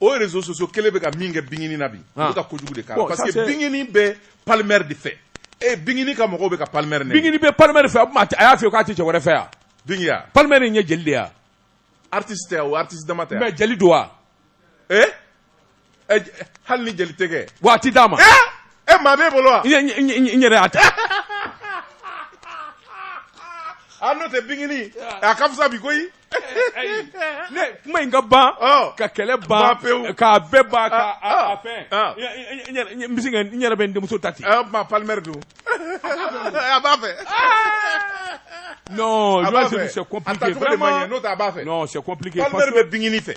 o réseaux sociaux kelen bɛ ka min kɛ bingini na bi u bɛ ka kojugu de k'a la parce que bingini bɛ palmɛri de fɛ et bingini ka mɔgɔw bɛ ka palmɛri nɛni bingini bɛ palmɛri fɛ a y'a fɔ k'a tɛ cɛ wɛrɛ fɛ yan bingi ya palmɛri in ye jeli de ya artiste tɛ o artiste dama tɛ mais jeli don wa ee eh? eh, hali ni jeli tɛ kɛ wa a ti d'a ma e maa b'e bolo wa n yɛrɛ y'a ta a n'o tɛ bingini a ka fisa bi koyi ne kuma in ka ban ka kɛlɛ ban k'a bɛɛ ban ka fɛn n bɛ se ka n yɛrɛ bɛ n denmuso ta ten ma palimɛri don a b'a fɛ non je c'est c'est compliqué vraiment n'o tɛ a b'a fɛ non c'est compliqué palimɛri bɛ bingini fɛ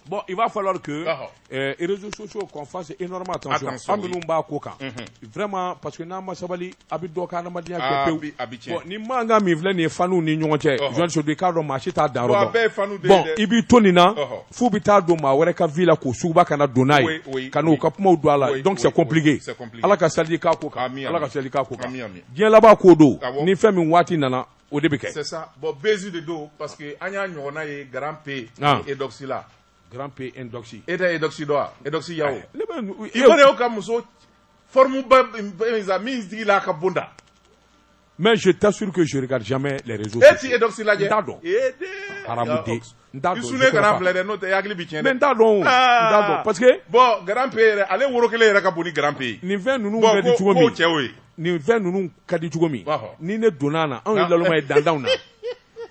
bon il va falloir que Eh, réseaux sociaux qu'on fasse énormément attention an minnu b'a ko kan mhm. vraiment parce que n'an ma sabali a bɛ dɔ ka adamadenya kɛ ah, pewu bon ni mankan min filɛ nin ye fanw ni ɲɔgɔn cɛ jɔn sodi k'a dɔn maa si t'a dan yɔrɔ dɔn bon i b'i to nin na f'u bɛ taa don maa wɛrɛ ka vie la k'o suguba ka na don n'a ye ka n'u ka kumaw don a la donc c'est compliqué ala ka sali k'a ko kan ala ka sali k'a ko kan diɲɛ laban ko don ni fɛn min waati nana o de bɛ kɛ c'est ça bon buzz de don parce que an y'a ɲɔgɔnna ye grand p ah. Eudoxie la grand p Eudoxie e tɛ Eudoxie dɔn wa Eudoxie Yao i ka muso forme ba min sigilan ka bon dɛ mais je t'assure que je lis jamais les réseaux e tɛ Eudoxie lajɛ n t'a dɔn araden n t'a dɔn ne kan'a filɛ dɛ n'o tɛ hakili bɛ tiɲɛ dɛ n t'a dɔn n t'a dɔn parce que bon grand p yɛrɛ ale woro kelen yɛrɛ ka bon ni grand p ye nin fɛn ninnu ka di cogo min cɛw ye nin fɛn ninnu ka di cogo min ni ne donna na anw ye lalma ye dantanw na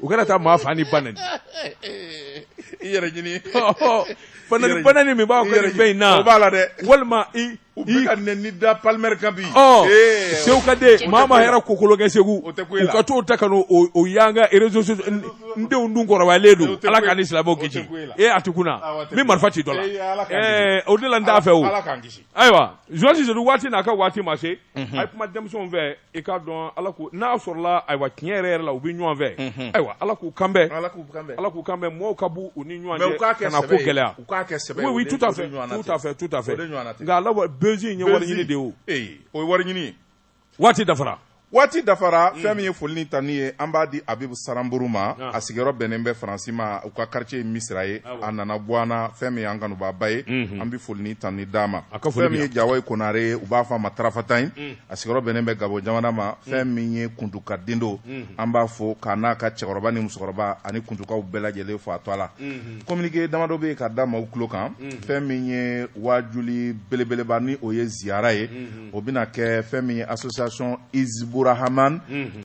u kana taa maa fa ni ba nɛni i yɛrɛ ɲini fa nɛni ba nɛni min b'a kɛ nin fɛn in na o b'a la dɛ walima i u bɛ ka nɛni da palimɛri kan bi sew ka den maa ma hɛrɛ kokolo kɛ segu u ka t'o ta ka n'o o y'an ka réseaux sociaux n denw dun kɔrɔbayalen don ala k'an ni silamɛw kisi ee a ti kunna n bɛ marifa ci dɔ la ɛɛ o de la n t'a fɛ o ayiwa Joyce Sissoco waati n'a ka waati ma se a ye kuma denmisɛnw fɛ i k'a dɔn a la ko n'a sɔrɔla ayiwa tiɲɛ yɛrɛ yɛrɛ la u bɛ ɲɔgɔn fɛ mhm. ayiwa ala k'u kanbɛn ala k'u kanbɛn ala k'u kanbɛn mɔgɔw ka bɔ u ni ɲɔgɔn cɛ kana ko gɛlɛya u k'a kɛ sɛbɛ oui tout à fait tout à fait tout à fait nka a la buzz in ye wari ɲini de ye o ee o ye wari ɲini waati dafara waati dafara mm. fɛn min ye foli ni tanni ye an b'a di abibu saranburu ma ah. a sigiyɔrɔ bɛnnen bɛ faransi ma u ka quartier ye misira ye ah, a nana bɔ an na fɛn min ye an kanubaba ye mhm. an bɛ foli ni tanni d'a ma fɛn min ye jawayi konare ye u b'a fɔ a ma tarafatan ye mm. a sigiyɔrɔ bɛnnen bɛ gabon jamana ma fɛn min ye kuntuka den don an b'a fo k'a n'a ka cɛkɔrɔba ni musokɔrɔba ani kuntukaw bɛɛ lajɛlen fo a to a la kominike damadɔ bɛ yen ka da maaw tulo kan fɛn min ye wajuli belebeleba ni o ye ziyara ye o bɛna kɛ fɛn min ye association izibu rahamani